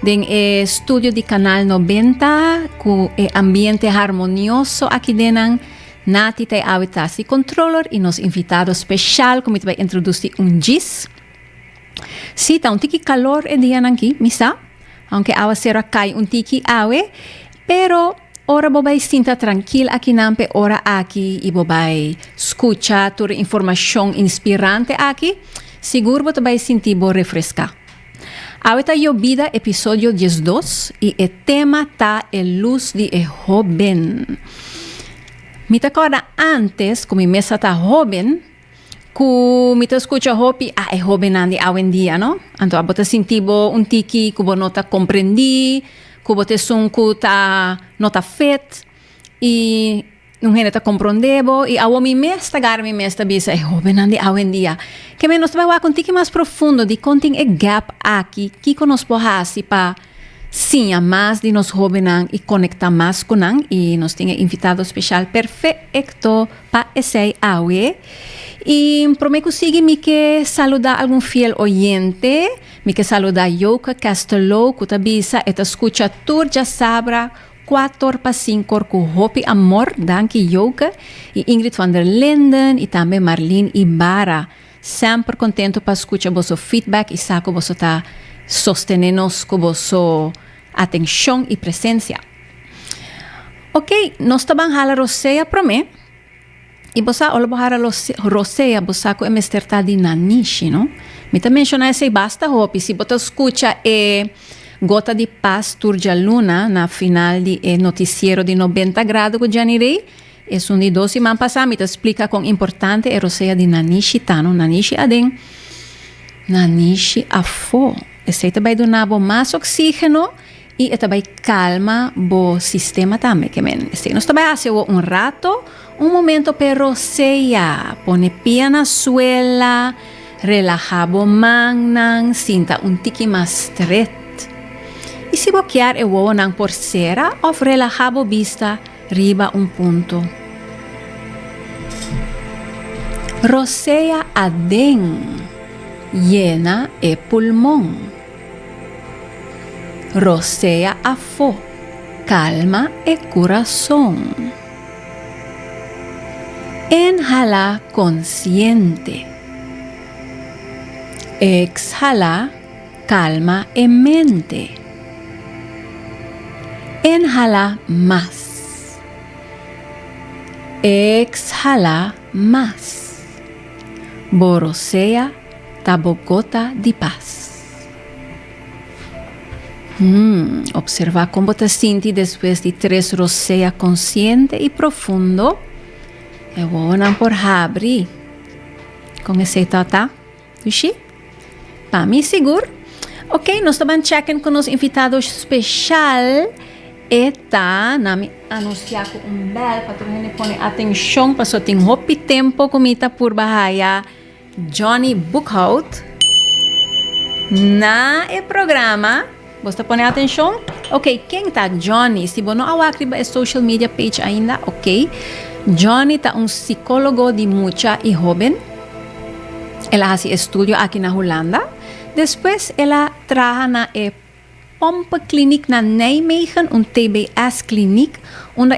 Den e studio di Canal 90 cu e ambiente harmonioso aki den nan, Nati ta e awe tras di controller y nos invitado special cu mi ta bay introduci un djis. Si, ta un tiki calor e dianan aki, mi sa, aunke awa cero a cay un tiki awe, pero ora bo bay sinta trankil aki nan p'e ora aki y bo bay scucha tur e informacion inspirante aki, sigur bo ta bay sinti bo refresca. Awe ta Yobida episodio diesdos y e tema ta E luz di e hoben. Mi ta corda antes cu mi mes a ta hoben cu mi ta scucha hopi ah e hobennan di awendia no, anto abo ta sinti bo un tiki cu bo no ta comprendi, cu bo ta esun cu ta no ta fet y Un hende ta komprondé bo, i awor mi mes ta gara mi mes ta bisa e hóbennan di awendia. Kèmen nos ta bai wak un tiki mas profundo di kon tin e gèp aki, kiko nos por hasi pa siña mas di nos hóbennan i konektá mas ku nan. I nos tin e invitado speshal perfeekto pa esei awe. I promé ku sigui mi ke saludá algun fiel oyente. Mi ke saludá Joke Castello ku ta bisa e ta skucha tur djasabra. Kua tor pa sinkor ku hopi amor danki Jouke i Ingrid van der Linden i tambe Marlene Ibarra. Semper kontentu pa skucha boso feedback i sa ku boso ta sostené nos ku boso atenshon i presensia. Oke, nos ta ban hala rosea promé. I bo sa, ora bo hara rosea, bo sa ku e mester ta di Nanishi, no? Mi ta menshoná esei basta hopi. Si bo ta skucha e Gota di Pas tur djaluna na final di e notisiero di Nobenta Grado ku Janny Rey, esun di dos siman pasá mi ta splika kon importante e rosea di Nanishi ta, no? Nanishi aden, Nanishi afó. Esei ta bai duna bo mas oksígeno I e ta bai kalma bo sistema tambe, ke men mester. Nos ta bai hasi awo un rato, un momento p'e rosea. Pone pia na suela, relaha bo mannan, sinta un tiki mas stret. I si bo kier e wowonan por sera òf relaha bo bista riba un punto. Rosea aden, yena e pulmon. Rosea afó, kalma e kurason. Inhala konsiente. Ekshala kalma e mente. Inhala mas. Ekshala mas. Bo rosea. Ta bo gota di pas. Hmm, observa con bo ta sinti despues di tres rosea consciente y profundo. E wowonan por habri. Con ese tata. Ushi? Pa mi sigur. Ok, nos taban checken con nos invitado special. Eta, na mi anuncia con un bel, pa tur hende pone atencion, paso tin hopi tempo con mi ta purba haya. Johnny Boekhout na e programa. Bos ta pone atencion? Ok, ken ta Johnny? Si bo no a wak riba e social media page ainda, ok. Johnny ta un psicologo di mucha y hoben. El a haci e studio aki na Hulanda. Despues el a traha na e. Pompe Kliniek na Nijmegen, un TBS kliniek, unda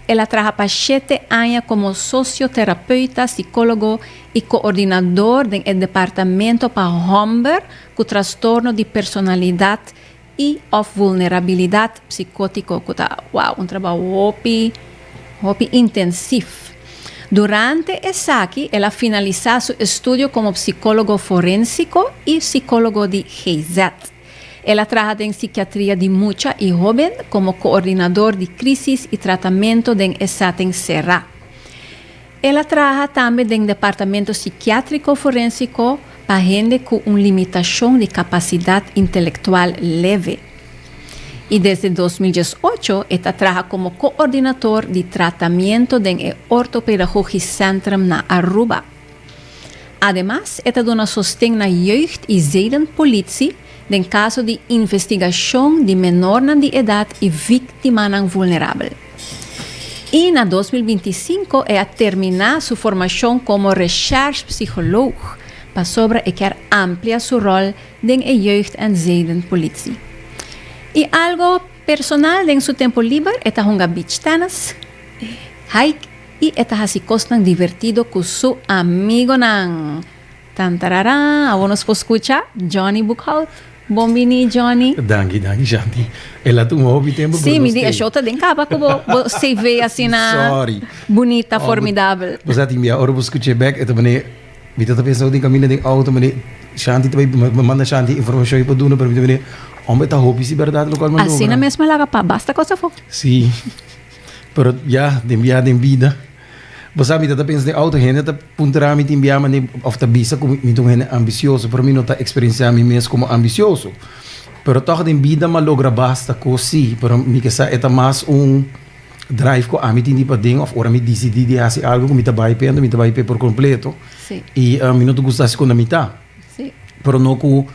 el a traha pa shete aña komo sosioterapeuta, sikólogo i koordinador den e departamento pa hòmber ku trastorno di personalidat i òf vulnerabilidat psikótiko, ku ta, wow, un trabou hopi, hopi intensif. Durante esaki el a finalisá su estudio komo psikólogo forénsiko i sikólogo di GZ. El a traha den sikiatria di mucha i hóben komo koordinador di krísis i tratamentu den e sèting será. El a traha tambe den departamento sikiátriko forénsiko pa hende ku un limitashon di kapasidat intelektual leve. I desde dos mil dies ocho e ta traha komo koordinator di tratamiento den e ortopedagúgis sèntrum na Aruba. Ademas e ta duna sosten na Jeugd i Zedenpolitie den kaso di investigashon di menornan di edat i víktimanan vulnerabel. I na dos mil binti sinku e a terminá su formashon komo recherchepsiholoog pasobra e kier amplia su ròl den e Jeugd en Zedenpolitie. I algo personal den su tempu liber e ta hunga beachtennis, hike, I e ta hasi kosnan divertido ku su amigonan. Tantarara, awor nos por skucha Johnny Boekhout. Bon bini, Johnny. Danki, danki, Shanti. El a tuma hopi tempu, pero nos tin. Si, mi di, e show ta den kaba ku bo CV asina bunita, formidabel. Sori. Bos a tin bia, ora bo skucha e bèk, e ta manera, mi ta pensa nou tin kaminda den outo, mi di, Shanti ta bai, mi manda Shanti informashon ei por duna, pero mi ta manera, hòmber, ta hopi si bèrdat lokal mandobra. Asina mes, mi a laga pa basta kos afó. Si. Pero ya den bia den bida bo sa mi ta ta pensa den auto hende ta puntara mi tin bia mane of ta bisa ku mi ta un hende ambisioso pero mi no ta eksperensiá mi mes komo ambisioso pero tog den bida mi a logra basta kos si pero mi ke sa e ta mas un drive ku ami tin di paden of ora mi disidí di hasi algu ku mi ta bai p'e enton mi ta bai p'e por kompleto i mi no ta gusta hasi konta mitá pero no ku.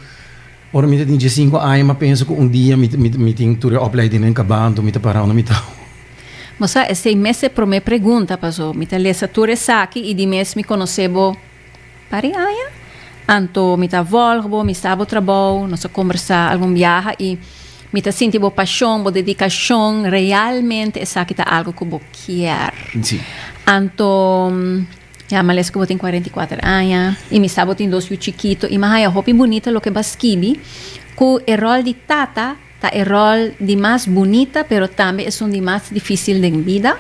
Ora mi ta tin diescinco aña m'a pensa cu un dia mi mi mi tin tur e oplijdingnan caba anto mi ta para unda mi ta. Bo sa esei mes e prome pregunta paso mi ta lesa tur esaki y di mes mi conoce bo pari aña anto mi ta volg bo mi sta bo trabou nos a combersa algun biaha y mi ta sinti bo pasion bo dedicacion realmente esaki ta algo cu bo kier anto. Ya males ku bo tin kuarenta i kuater aña i mi sa bo tin dos yu chikito i mi a haña hopi bunita loke bo a skibi ku e ròl di tata ta e ròl di mas bunita pero tambe esun di mas difisil den bida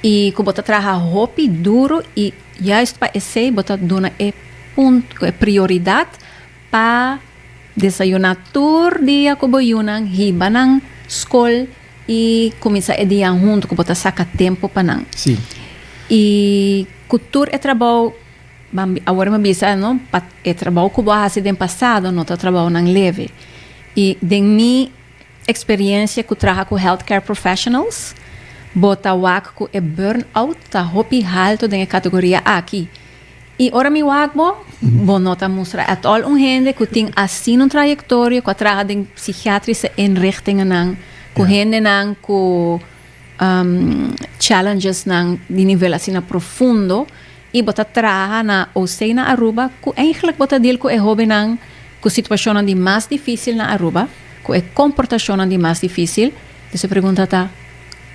i ku bo ta traha hopi duru i juist pa esei bo ta duna e punto e prioridat pa desayuná tur dia ku bo yunan hiba nan skol. I kuminsá e dianan huntu ku bo ta saka tempu pa nan. Sí. I ku tur e trabou, ban bi- awor mi a bisa no, pa e trabou ku bo a hasi den pasado no ta trabounan leve. I den mi eksperiencia ku traha ku health care professionals, bo ta wak ku e burn-out ta hopi haltu den e kategoria aki. I ora mi wak bo, bo no ta mustra at all un hende ku tin asina un trayektoria, ku a traha den psikiatriske inrichtingennan, ku hendenan ku challengesnan di nivel asina profundo, i bo ta traha na OC na Aruba, ku eigentlik bo ta deal ku e hóbennan ku situashonnan di mas difísil na Aruba, ku e komportashonnan di mas difísil. Pues e pregunta ta,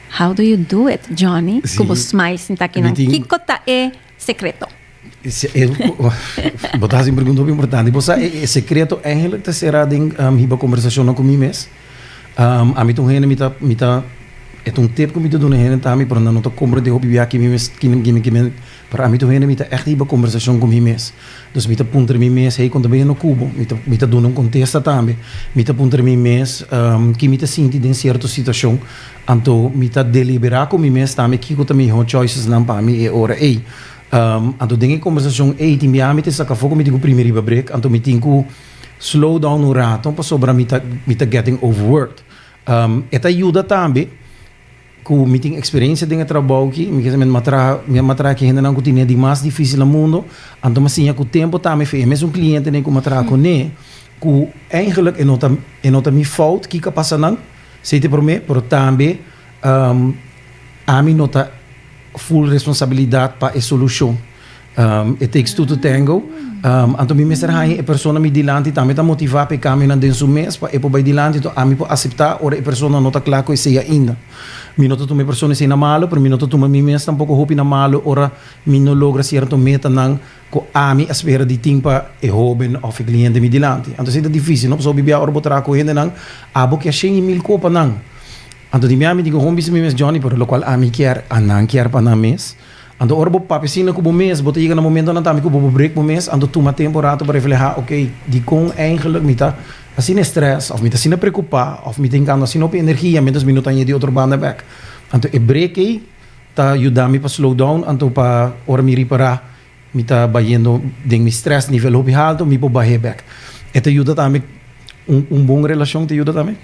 How do you do it, Johnny? Ku bo smile sinta akinan. Kiko ta e. secreto? Bo ta haci un pregunta hopi importante. Bo sa e secreto eigenlijk ta cera den hiba conversacionnan cu mi mes. Ami ta un hende mi ta mi ta e ta un tip cu mi ta duna e hende ta ami pero nan no ta comprende hopi bia kimen mes kimen kimen kimen pero ami ta un hende mi ta echt hiba conversacion cu mi mes. Dus mi ta puntra mi mes hey con ta bini no cubo? Mi ta mi ta duna un contesta tambe. Mi ta puntra mi mes ki mi ta sinti den cierto situacion. Anto mi ta deliberá ku mi mes tambe kiko ta mihó choicesnan pa mi e ora ei. Anto den e kombersashon ei tin biaha mi ta saka afó ku mi tin ku primi riba brek, anto mi tin ku slow down un rato pasobra mi ta mi ta getting overworked. E ta yuda tambe ku mi tin eksperensia den e trabou aki, mi kier mi a traha mi a mi a traha ku e hendenan ku tine e di mas difísil na mundo, anto mi a siña ku tempu ta mi fe. E mesun klientenen ku mi a traha kuné ku eigentlik e no ta e no ta mi fout, kiko a pasa nan? Sey ta promé, pero tambe ami no ta full responsabilidad pa e solucion. It takes two to tango. Anto mi mester haña e persona mi dilanti tambe ta motivá p'e kambionan den su mes pa e por bai dilanti. Anto ami por aseptá ora e persona no ta kla ku esei ainda. Mi no ta tuma e persona esei na malu, pero mi no ta tuma mi mes tampoko hopi na malu ora mi no logra sierto metanan. ku ami a spera di tin pa e hóben òf e kliente mi dilanti. Anto esei ta difísil. No pasá obi bia ora bo traha ku hendenan, abo kier shen i mil koe pa nan. Anto di mea mi tin ku homi bisa mi mes, Johnny, pero lokual ami kier, a nan kier pa nan mes. Anto ora bo papia asina ku bo mes, bo ta yega na momentu nan ta ami ku bo bo brek bo mes. Anto tuma tempu un ratu pa reflehá, Okey, dikon eingelik mi ta asina estrès òf mi ta asina preokupá òf mi ta hinkando asina hopi energia miéntras mi no ta añadí otro banda bèk? Anto e brek ei. ta yuda mi pa slow down, anto pa ora mi ripara mi ta bayendo den mi stress nivel hopi halto mi por bah'e bek. E ta yuda tambe un un bon relashon ta yuda tambe.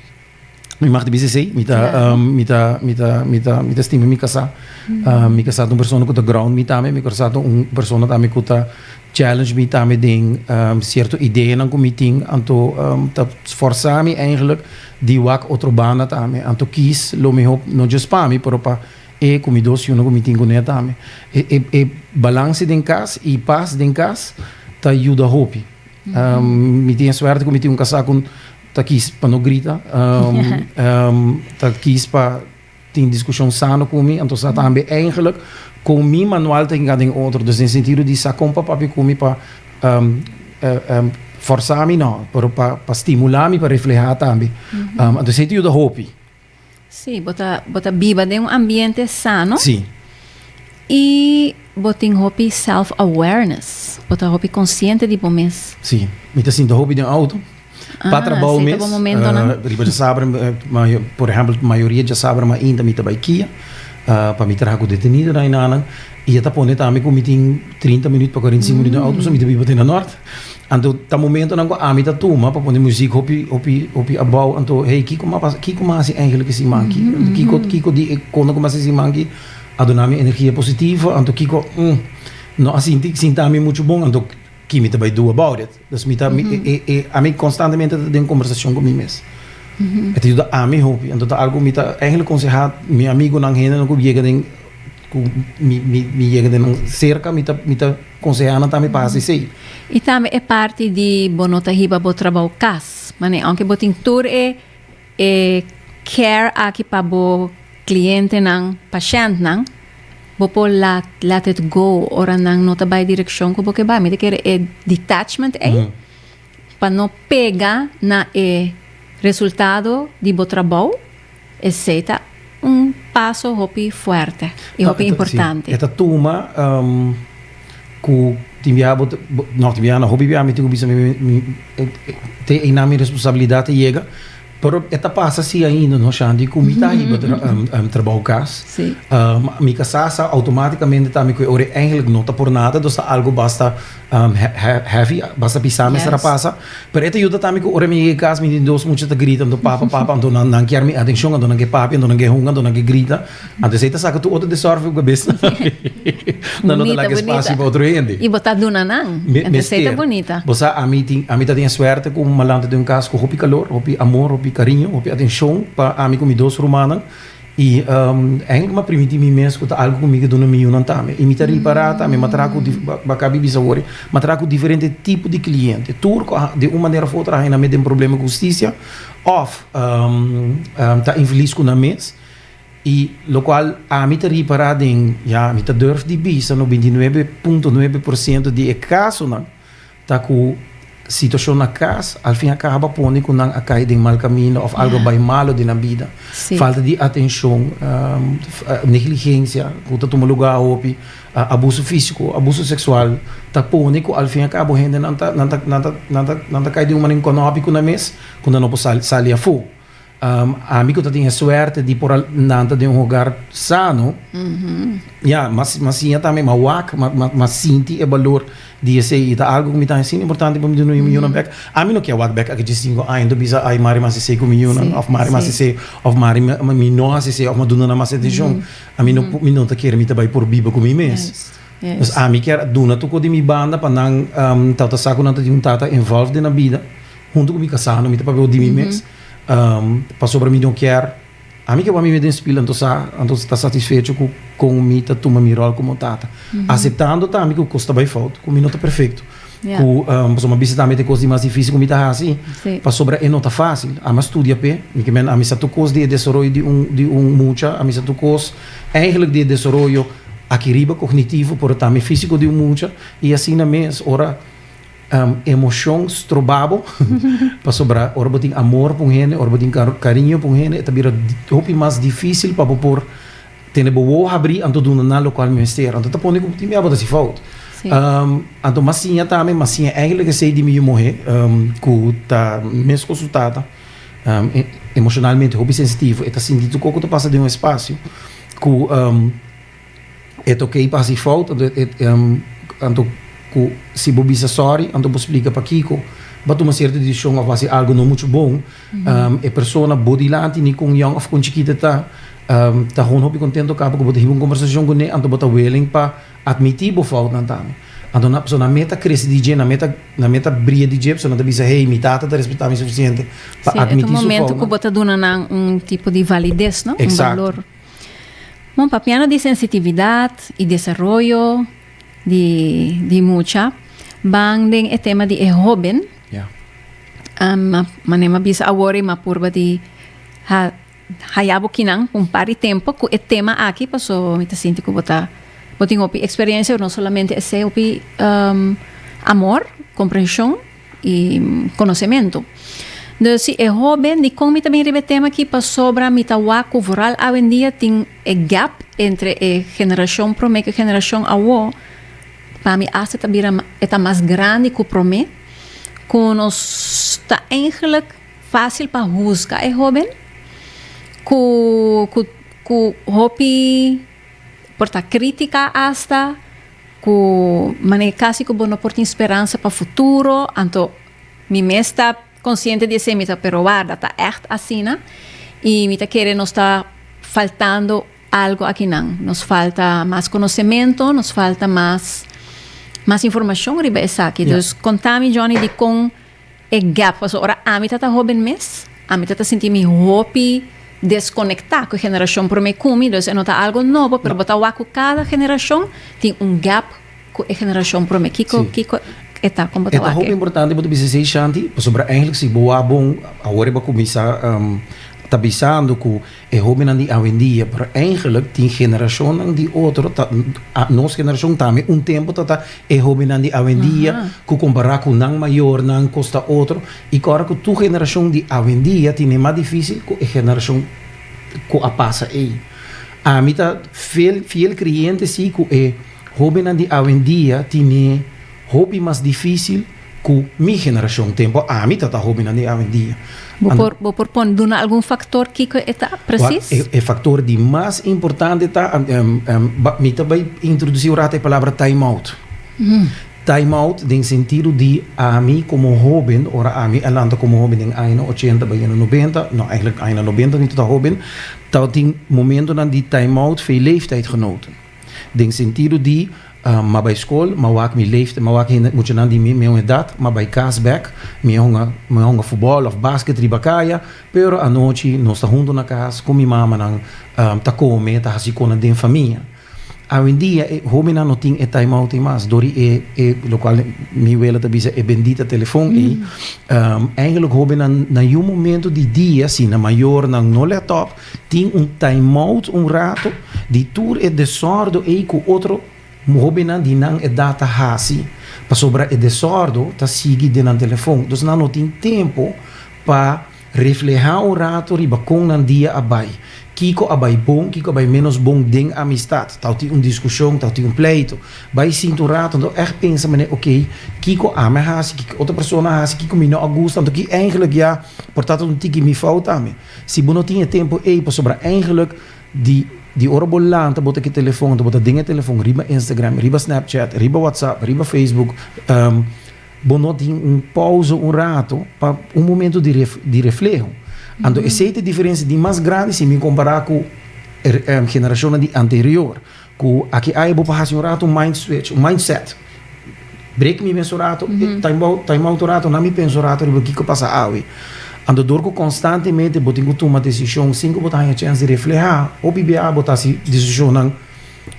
Mi mag ta bisa esei, mi ta Claro. um, mi ta mi ta mi ta mi ta stima mi kasá. Um, mi kasá ta un persona ku ta ground mi tambe, mi kasá ta un persona tambe ku ta Challenge mi tambe den cierto ideanan cu mi tin, anto ta sforza mi eigenlijk di wak otro banda tambe, anto kies lo miho no just pa mi pero pa e cu mi dos yunan cu mi tin cune tambe. E balance den cas y paz den cas ta yuda hopi. Mi tin e suerte cu mi tin un casa cu ta kies pa no grita, ta kies pa. Tin diskushon sano ku mi, anto sa tambe eingelik kon mi manual ta hinga den otro, dus den sentido di sa kon pa papia ku mi pa forsá mi nò, pero pa pa stimulá mi pa reflehá tambe. Anto esei ta yuda hopi. Sí, bo ta bo ta biba den un ambiente sano. Sí. I bo tin hopi self-awareness, bo ta hopi konsiente di bo mes. Sí, mi ta sinti hopi den outo. Pa trabou mes, riba dje sabra, por ehempel, mayoria dje sabra ma inta mi ta bai kia, pa mi traha ku detenidonan i nananan, i e ta pone ta mi ku mi tin trinta minüt pa kuarentisingu minüt den outo pasobra mi ta biba te na nòrt. Anto ta momentonan ku ami ta tuma pa pone muzik hopi, hopi, hopi abou, anto hey, kiko m'a pasa, kiko m'a hasi eigentlik esin man aki? Kiko, kiko di e kos ku m'a hasi esin man aki a duna mi energia positivo? Anto kiko, no a sinti, sinti ami muchu bon, anto kimi ta bai do about it? Pues mi ta, ami constantemente ta den conversacion cu mi mes. E ta yuda ami hopi. Anto ta algo mi ta eigenlijk conseha mi amigonan, hendenan cu yega den, cu mi yega den nan cerca, mi ta, mi ta conseha nan tambe pa haci esey. Y tambe e parti di bo no ta hiba bo trabao cas. Mane, aunke bo tin tur e E care aki pa bo clientenan, pashèntnan, bo por laat let it go ora nan no ta bai direkshon ku bo ke bai. Mi ta kere e detachment ei pa no pega na e resultado di bo trabou, esei ta. Un paso hopi fuerte y hopi importante. No, e ta tuma cu tin biaha bo, no, tin biaha no, hopi biaha mi tin cu bisa mi, mi, te einan mi responsabilidad ta yega, pero e ta pasa si ainda, no Shanti, cu mi ta hiba trabou cas, mi casasa automaticamente ta mi cu e ora e eigenlijk no ta por nada, dus ta algo basta Um, he, he, heavy, basta bisa yes. mesera pasa. Pero ete yuda también que ora mi llega casa, mi tin dos muchos te gritan, do papa, papa, ando nan, nan kier mi atención, ando nan que papi, ando nan que hunga, ando nan que grita. Ando se te saca tu otro desorf op bes. Nan no te laga espacio para otro gente. Y bota duna nan. Ando se te bonita. Bosa a mi tin, a mi ta tiene suerte con malante de un casa con hopi calor, hopi amor, hopi cariño, hopi atención pa a mi con mi dos rumanan. I Henk m'a primiti mi mes ku ta algu ku mi ke duna mi yunan tambe. I mi ta ripará tambe, m'a traha ku, baka bibi sa wori, m'a traha ku diferente tipo di kliente. Tur ku a den un manera òf otra a hina me den problema ku hustisia òf ta infilis ku nan mes. I lokual ami ta ripará den, ya mi ta durf di bisa no bintinuebe punto nuebe por siento di e kasonan Ta cu situacion na cas al fin a caba pone cu nan a cay den mal camino of algo a bay malo den nan bida. Falta di atencion, negligencia cu ta tuma lugar hopi, abuso fisico, abuso sexual ta pone cu al fin a cabo hende nan ta cay den un mane nconobi cu nan mes cu nan no por sali afo. Um, ami ku ta tin e suerte di por nan ta den un hogar sano. Mm -hmm. Ja, mas mas sinja tambe ma wak, ma ma, ma sinti e balor di ese i ta algo ku mi ta sin importante pa mi dunu mm -hmm. bek. Ami no kia wak bek aki 5 aña do bisa ai mari mas ese ku mi yuna sí, of mari sí. mas ese of mari mi, mi no hasi ese of ma duna na mas atención. Mm -hmm. Ami no mm -hmm. mi no ta kere mi ta bai por biba ku mi mes. Yes. Yes. Dus ami kier duna tuko di mi banda pa nan um, tata sa ku nan ta tin un tata involved na bida. Hunto ku mi kasano mi ta papia di mi mes. Mm -hmm. Pasobra mi no kier ami ke wami me den spil, anto sa, anto ta satisfecho ku kon mi ta tuma mi ròl komo tata, aseptando tambe ku kos ta bai fout, ku mi no ta perfekto, ku pasobra mi a bisa tambe e kos di mas difísil ku mi ta hasi, pasobra e no ta fásil, ami a studia p'e, mi ke mende, a misa tur kos di e desaroyo di un di un mucha, a misa tur kos eigentlik di e desaroyo aki riba kognitivo, pero tambe físiko di un mucha, i asina mes ora. Emocion stroba bo, pasobra ora bo tin amor pa un hende, ora bo tin cariño pa un hende, e ta bira hopi mas dificil pa bo por tene bo wou habri anto duna nan locual mester. Anto ta pone cu tin mey abo ta hasi fout. Anto mas siña tambe, mas siña eigenlijk esey di mi yu muhe cu ta mes cu su tata, emocionalmente hopi sensitivo. E ta sinti tur cosa cu ta pasa den un espacio cu E ta oké pa hasi fout, anto ku si bo bisa sòri, anto bo splika pakiko bo tuma sierto desishon òf bo hasi algu no muchu bon. E persona bo dilanti, ni kon yòn òf kon chikit e ta, ta hon hopi kontentu kaba ku bo ta hiba un kombersashon ku ne, anto bo ta willing pa atmití bo foutnan tambe. Anto nan, pasobra nan meta krese di dje, nan meta, nan meta bria di dje, pasobra nan ta bisa, hey, mi tata ta respetá mi sufisiente pa atmití su fout. Si, e ta un momentu ku bo ta duna nan un tipo di valides, no? Un balor. Bon, papiando di sensitividad y desaroyo di, di mucha, ban den e tema di e hoben. Ja. Um, ma, mané ma bisa awor y ma purba di ha, haya bo kinan pa un par di tempo cu e tema aki, paso mi ta sinti cu bo ta, bo tin hopi experiencia, no solamente esey, hopi um, amor, comprension. i konosementu. Dus si e hóben di kon mi ta bin riba e tema akí pasobra mi ta wak ku vooral awendia tin e gèp entre e generashon promé ku e generashon awó, pa mi asta ta bira e ta mas grandi ku promé, ku nos ta eigenlik fásil pa huzga e hóben ku ku ku hopi por ta krítika asta. Ku manera kasi ku bo no por tin speransa pa futuro, anto mi mes ta konsiente di esei, mi ta perobá ta ègt asina, i mi ta kere nos ta faltando algu akinan. Nos falta mas konosementu, nos falta mas, mas informashon riba esaki. Dus konta mi Johnny dikon. E gap paso ora ami ta ta hoben mes, ami ta ta sinti mi hopi desconecta cu e generacion prome cu mi, dus e no ta algo nobo, pero bo ta wak cu cada generacion tin un gap cu e generacion prome. Kico, kico e ta con bo ta wak e? E ta hopi importante bo ta bisa esey, Shanti, pasobra, eigenlijk si bo wak bon, awor e bo a cuminsa ta bisando cu. E hobennan di awendia, pero eigenlijk tin generacionnan di otro ta, a, nos generacion tambe un tempo ta ta e hobennan di awendia cu compara cu nan mayornan cos ta otro y cu ora cu tur generacion di awendia tin e mas dificil cu e generacion cu a pasa ey. Ami ta fiel fiel creyente si cu e hobennan di awendia tin e Hopi mas difícil cu mi generacion tin, bo ami ta ta hobinan di awendia. Bo por bo por pone duna algun factor kico e ta precies? Well, e factor di mas importante ta, mi ta bay introduci un rato e palabra time out. Time out den sentido di ami como hoben, ora ami a lanta como hoben den añanan ochenta bayendo nobenta, no eigenlijk añanan nobenta mi ta ta hoben, tabatin momentonan di time out for e leeftijdgenoten. Den sentido di m'a bai skol, m'a wak mi leeftijd, m'a wak hende, muchanan di mi meun edat, m'a bai kas bèk, mi a hunga, mi a hunga futbòl òf basket riba kaya, pero anochi nos ta huntu na kas ku mi mamanan ta kome, ta hasi kona den famia. Awendia e hóbennan no tin e time-out ei mas dor di e e lokual mi wele ta bisa e bendita telefòn ei. Eindelik hóbennan na yu momentu di dia, si na mayornan no lèt òp, Tin un timeout un rato di tur e desordo ei ku otro hobennan di nan edat ta hasi, pasobra e desordo ta sigui den nan telefon. Entonces nan no tin tempu pa reflehá un rato riba kon nan dia a bai, kiko a bai bon, kiko a bai ménos bon den amistat. Ta tin un diskushon, ta tin un pleito, bai sinta un rato, anto ègt pensa manera, okey, kiko ami a hasi, kiko otro persona a hasi, kiko mi no a gusta, anto ki eingelik ya por ta ta un tiki mi fout tambe? Si bo no tin e tempu ei pasobra eigenlik di di ora bo lanta bo ta ki telefon anto bo ta den e telefon riba Instagram, riba Snapchat, riba WhatsApp, riba Facebook, bo no tin un pausa un ratu pa un momentu di di refleho. Anto esei ta e diferensia di mas grandi si mi kompara ku e generashonnan di anterior. Ku aki ai bo por hasi un ratu un mind switch, un mindset. Breek mi mes un ratu, time out, time out un ratu, na mi pensa un ratu riba kiko pasa awe. Anto dor ku konstantemente bo tin ku tuma desishon sin ku bo ta haña chèns di reflehá, o pibia bo ta hasi desishonnan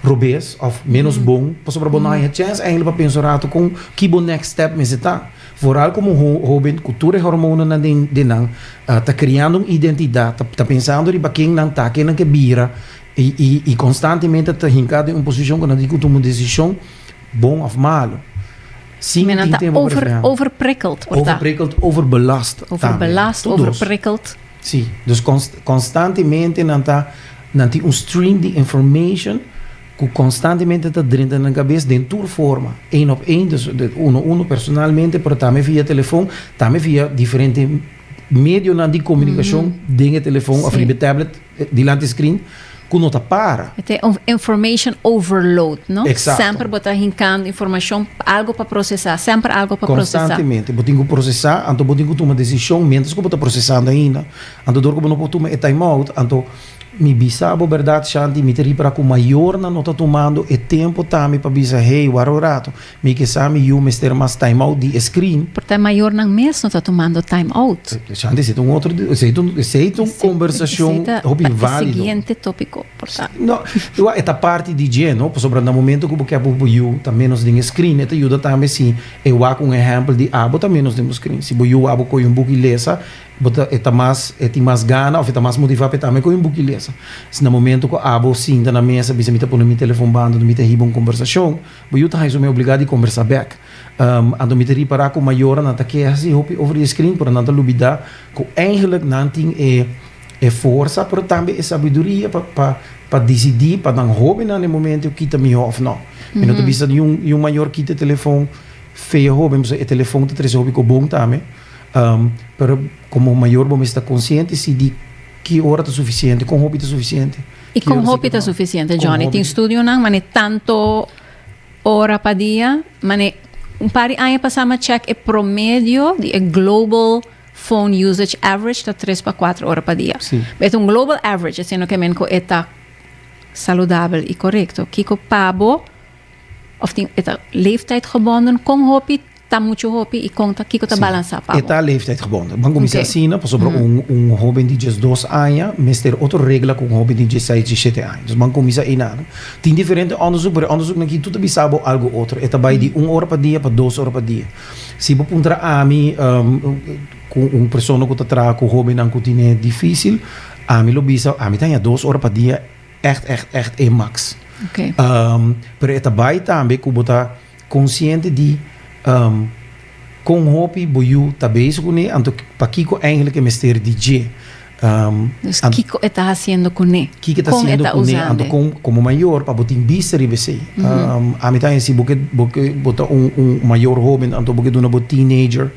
robes òf ménos bon, pasobra bo no haña chèns èinklik pa pensa un ratu kon ki bo next step mester ta. Vooral komo un hóben ku tur e hormonennan den nan ta kreando un identidat, ta pensando riba ken nan ta, ken nan ke bira, I konstantemente ta hinká den un posishon ku nan tin ku tuma un desishon bon òf malu. Sin tin tempu pa reflehá. Overprikkeld, por ta. Overprikkeld, overbelast tambe. Overbelast, overprikkeld. Sí. Dus konstantemente nan ta, nan tin un stream di information ku konstantemente ta drenta nan kabes den tur forma. Ein op ein, dus uno a uno, personalmente, pero tambe via telefon, tambe via diferente medionan di komunikashon den e telefon òf riba e tablet. Dilanti screen cu no ta para. E ta un information overload, no? Exacto. Semper bo ta hincando informacion, algo pa procesa, semper algo pa procesa. Constantemente bo tin cu procesa, anto bo tin cu tuma decision mientras cu bo ta procesando ainda. Anto dor cu bo no por tuma e time out, anto mi bisa bo berdad Shanti, mi ta ripara cu mayornan no ta tumando e tempo tambe pa bisa hey, waro rato, Mi kisa mi yu mester mas time out di e screen. Por ta e mayornan mes no ta tumando time out. Shanti, esei ta un otro, esei ta un, esei ta un conversacion hopi valido. Esei ta pa e siguiente topico, por ta. No, igual e ta parti di dje, no? Pasobra na momento cu bo kep hopi bo yu ta menos den e screen, e ta yuda tambe si e wak un ehempel di abo ta menos den bo screen. Si bo yu abo coge un buki lesa, bo ta, e ta mas, e tin mas gana of e ta mas motiva pa e tambe coge un buki lesa. Si na momento cu abo sinta na mesa bisa mi ta pone mi telefon banda dor mi ta hiba un conversacion, Bo yu ta haya su mi obligá di kombersá bèk. Anto mi ta ripará ku mayornan nan ta keha si hopi over e skrin, pero nan ta lubidá ku eingelik nan tin e forsa, pero tambe e sabiduria pa disidí pa nan hóbennan den momentu yu kita mihó òf nò. Mi no ta bisa di un mayor kita e telefon fe e hóben, pasobra e telefon ta trese hopi kobon tambe. Pero komo mayor bo mester ta konsiente si di ki ora ta sufisiente, kon hopi ta sufisiente. Y con hopi ta suficiente Johnny? Tin studionan mane tanto ora pa dia, mane un par di aña pasa mi a check e promedio di e global phone usage average ta tres pa cuatro ora pa dia. Sí. Be ta un global average, asina no ke men ku e ta saludabel i korekto. Kiko pa bo of tin e ta leeftijdgebonden, kon hopi Ta mucho hopi y con ta kico ta balansa pa bo? E ta leeftijd gebonden. Bo kan cuminsa asina pasobra un hoben di diesdos aña mester otro regla cu un hoben di diesseis, diesshete aña. Dus bo kan cuminsa einan. Tin diferente onderzoek, pero e onderzoeknan aki tur ta bisa bo algo otro. E ta bay di un ora pa dia pa dos ora pa dia. Si bo puntra ami, cu un persona cu ta traha cu hobennan cu tin e dificil, ami lo bisa, ami ta haña dos ora pa dia echt, echt, echt e max. Pero e ta bay tambe cu bo ta. Konsiente di kon hopi bo yu ta bezig kuné, anto pakiko eingelijk e mester di dje? Dus kiko e ta hasiendo kuné? Kiko e ta hasiendo kuné anto kon komo mayor pa bo tin bista riba esei? Ami ta hasi bo ke bo ke bo ta un un mayor hoben anto bo ke duna bo teenager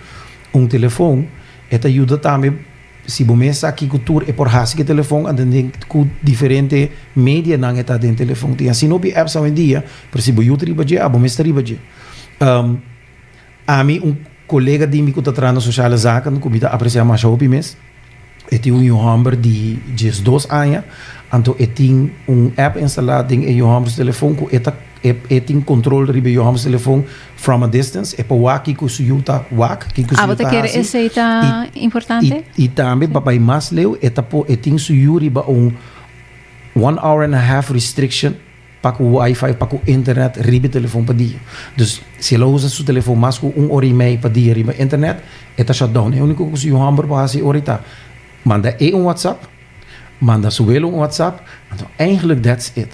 un telefon e ta yuda tambe. Si bo mes sa kico tur e por haci c'e telefon, anto enten cu diferente medianan e ta den telefon. Tin asina hopi apps awendia, pero si bo yuta riba dje, abo mes ta riba dje. Ami, un colega di mi cu ta traha na sociale zaken, cu mi ta aprecia masha hopi mes, e tin un yu homber di diesdos aña, anto e tin un app instala den e yu homber su telefon cu e ta. E tin control riba e yoham telefon from a distance, e por wak kico su yu ta wak, kico su yu ta haci, y tambe pa bay mas leu e ta por e tin su yu riba un one hour and a half restriction pa cu wifi, pa cu internet riba e telefon pa dia. Dus si e lo usa su telefon mas cu un ora y mei pa dia riba internet e ta shutdown. E unico cu su yoham por haci ora y ta manda e un whatsapp, Manda su welo un WhatsApp, anto eigenlijk that's it.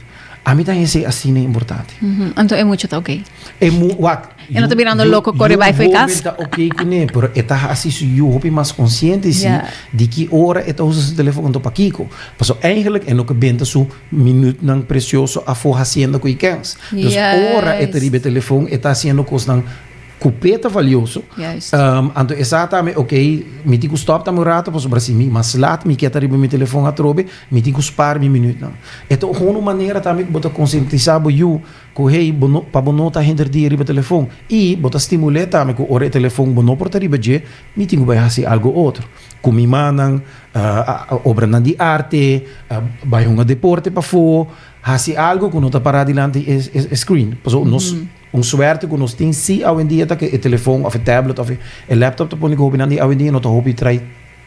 A mi ta hesé asina importante. Mm -hmm. Anto e mucho ta oké. Okay. E mu wat? E no ta mirando loco corre bij voor kas. ta oké okay kuné, pero e ta hasi su yu hopi mas consciente si yeah. di ki ora e ta usa su telefoon anto pa kiko. Paso eigenlijk e no ke benta su minuut nan precioso afo haciendo kuikens. Yes. Dus ora e ta riba telefoon e ta haciendo kosnan Ku p'e ta valioso. Juist. Um, anto e sa tambe, ok, mi tin ku stop tambe un rato, pasobra si mi mas lat, mi kiet ariba mi telefon atrobe, mi tin ku spar mi minutnan. E ta un un manera tambe ku bo ta konsientisá bo yu ku hey, bo no, pa bo no ta henter dia riba telefon. I bo ta stimul'é tambe ku ora e telefon bo no por ta riba dje, mi tin ku bai hasi algu otro. Ku mi mannan, uh, obranan di arte, uh, bai hunga deporte pafó, hasi algu ku no ta pará dilanti e, e screen. Paso nos. Un suerte cu nos tin si awendia ta cu e telefoon of e tablet of e laptop ta pone cu hopinan di awendia no ta hopi trae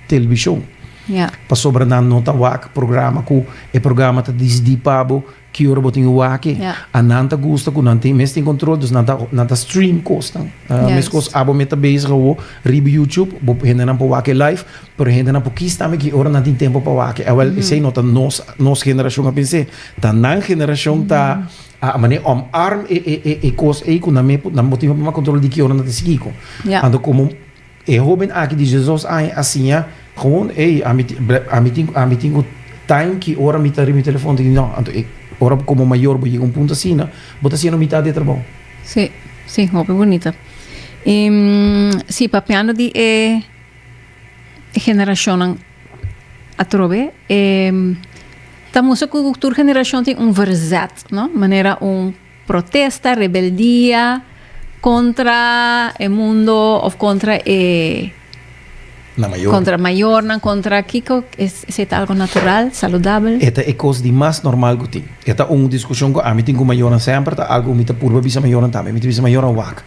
television. Ja. Pasobra nan no ta wak programa cu e programa ta dicidi pa bo ki ora bo tin waki. Ja. A nan ta gusta cu nan tin mes tin control dus nan ta nan ta stream cosnan. Yes. Mescos abo me ta bezig awo riba YouTube bo hendenan por wak e live pero hendenan por kies tambe ki ora nan tin tempo pa waki. Awel esey no ta nos nos generacion a pens'e ta nan generacion ta A mane om arm e e e e kos ei ku nan me nan bo tin hopi mas kontrol di ki ora nan ta sigui ku. Ja. Anto komo e hoben aki di diesdos aña a siña gewoon ey ami tin ble ami tin ami tin ku taim ki ora mi ta riba mi telefòn ta no anto e ora bo komo mayor bo yega un punto asina bo ta siña no mitat di e trabou. Si, si, hopi bunita. I si papiando di e. generashonnan atrobe e ta mustra ku tur generashon tin un verzet, no? Manera un protesta, rebeldia kontra e mundo òf kontra e Na mayor. kontra mayornan, kontra kiko esei ta algo natural, saludabel. E ta e kos di mas normal ku tin. E ta un diskushon ku ami tin ku mayornan semper, ta algo ku mi ta purba bisa mayornan tambe. Mi ta bisa mayornan, wak.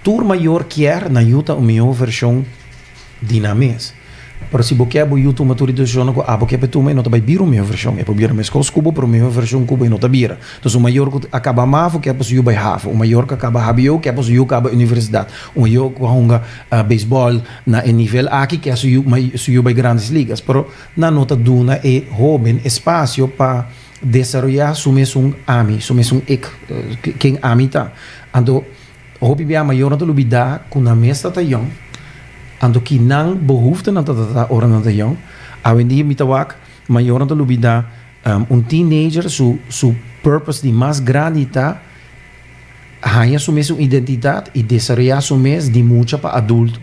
Tur mayor kier na yuta un mihó vershon di nan mes. Pero si bo kier bo yu tuma tur e desishonnan ku abo kier pa e tuma, e no ta bai bira un mihó vershon. E por bira meskos ku bo, pero un mihó vershon ku bo e no ta bira. Entonces, un mayor ku a kaba mavo kier pa su yu bai havo. Un mayor ku a kaba hbo kier pa su yu kaba universidat. Un mayor ku a hunga beisbòl na e nivel aki kier su yu su yu bai Grandes Ligas. Pero nan no ta duna e hóben espasio pa desaroyá su mesun ami, su mesun ik, ken ami ta. Anto. Hopi bia mayornan ta lo bida ku nan mes ta ta yòn, anto ki nan behuftenan ta ta ta ora nan ta yòn. Awendia mi ta wak mayornan ta lo bida un teenager su su purpose di mas grandi ta haña su mes un identidat i desaroyá su mes di mucha pa adulto.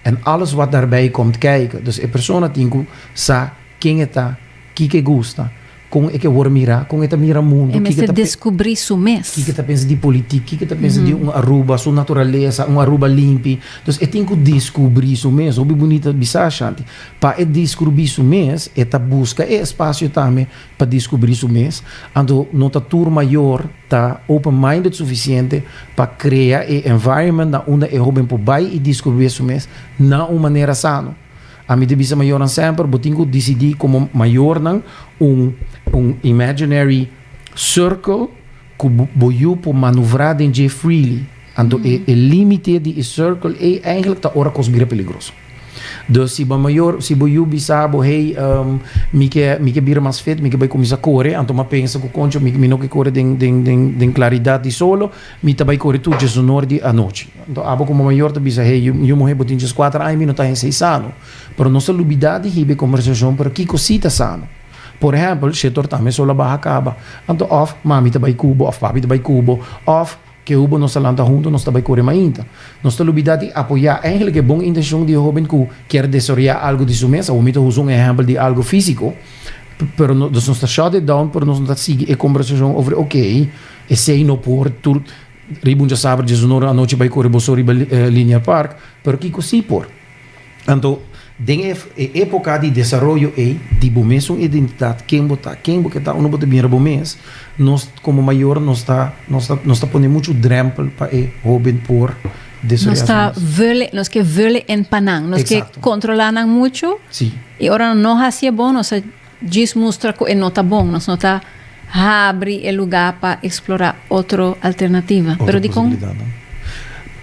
En alles wat daarbij komt kijken. Dus e persona tin ku sa ken e ta, kiko e gusta, kon e ke wòrdu mirá, kon e ta mira mundu, kiko e ta pensa. E mester deskubrí su mes. Kiko e ta pensa di politik, kiko e ta pensa di un Aruba, su naturalesa, un Aruba limpi. Dus e tin ku deskubrí su mes. Hopi bunita bisa ashanti. Pa e deskurbí su mes e ta buska e espasio tambe pa diskubrí su mes, anto no ta tur mayor ta open-minded sufisiente pa krea e environment na unda e hóben por bai i diskubé su mes na un manera sano. Ami ta bisa mayornan semper, Bo tin ku disidí komo mayornan un un imaginary circle, Ku bo yu por manuvrá den dje freely, anto e límite di e sirkel ei eigentlik ta ora kos bira peligroso. Dus si bo mayor, si bo yu bisa bo, Hey, mi ke, mi ke bira mas fit, mi ke bai kuminsá kore, anto mi a pensa ku, Koncho, mi, mi no ke kore den, den, den, den klaridat di solo, mi ta bai kore tur djesunor di anochi. Anto abo ku bo mayor ta bisa, Hey, yu, yu muhé, bo tin djeskuater aña, mi no ta hesei sano. Pero nos ta lubidá di hiba e kòmbersashon, pero kiko sí ta sano? Por ehèmpel, Shetor ta mester lo baha kaba. Anto òf mami ta bai ku bo òf papi ta bai ku bo òf ke hu bo nos ta lanta huntu nos ta bai kore mainta. Nos ta lubidá di apoyá enkele ke bon intenshon di e hóben ku kier desaroyá algu di su mes. Awor mi ta usa un ehèmpel di algu físiko, pero nos nos ta shòt it down, pero nos no ta sigui e kombersashon over okey, esei no por tur riba un djasaber, djasnora anochi bai kore boso riba Linear Park, pero kiko sí por? Anto, den e époka di desaroyo ei di bo mes un identidat, ken bo ta, ken bo ke ta, unda bo ta bira bo mes, nos komo mayor nos ta nos ta nos ta pone muchu drèmpel pa e hóben por desaroyá su mes. Vele, nos ke vele en pa nan, nos ke kontrolá nan muchu i ora nan no hasié bon nos ta. Djis mustra cu e no ta bon, nos no ta habri e luga pa explora otro alternativa. Pero dicon? Otro posibilidadnan.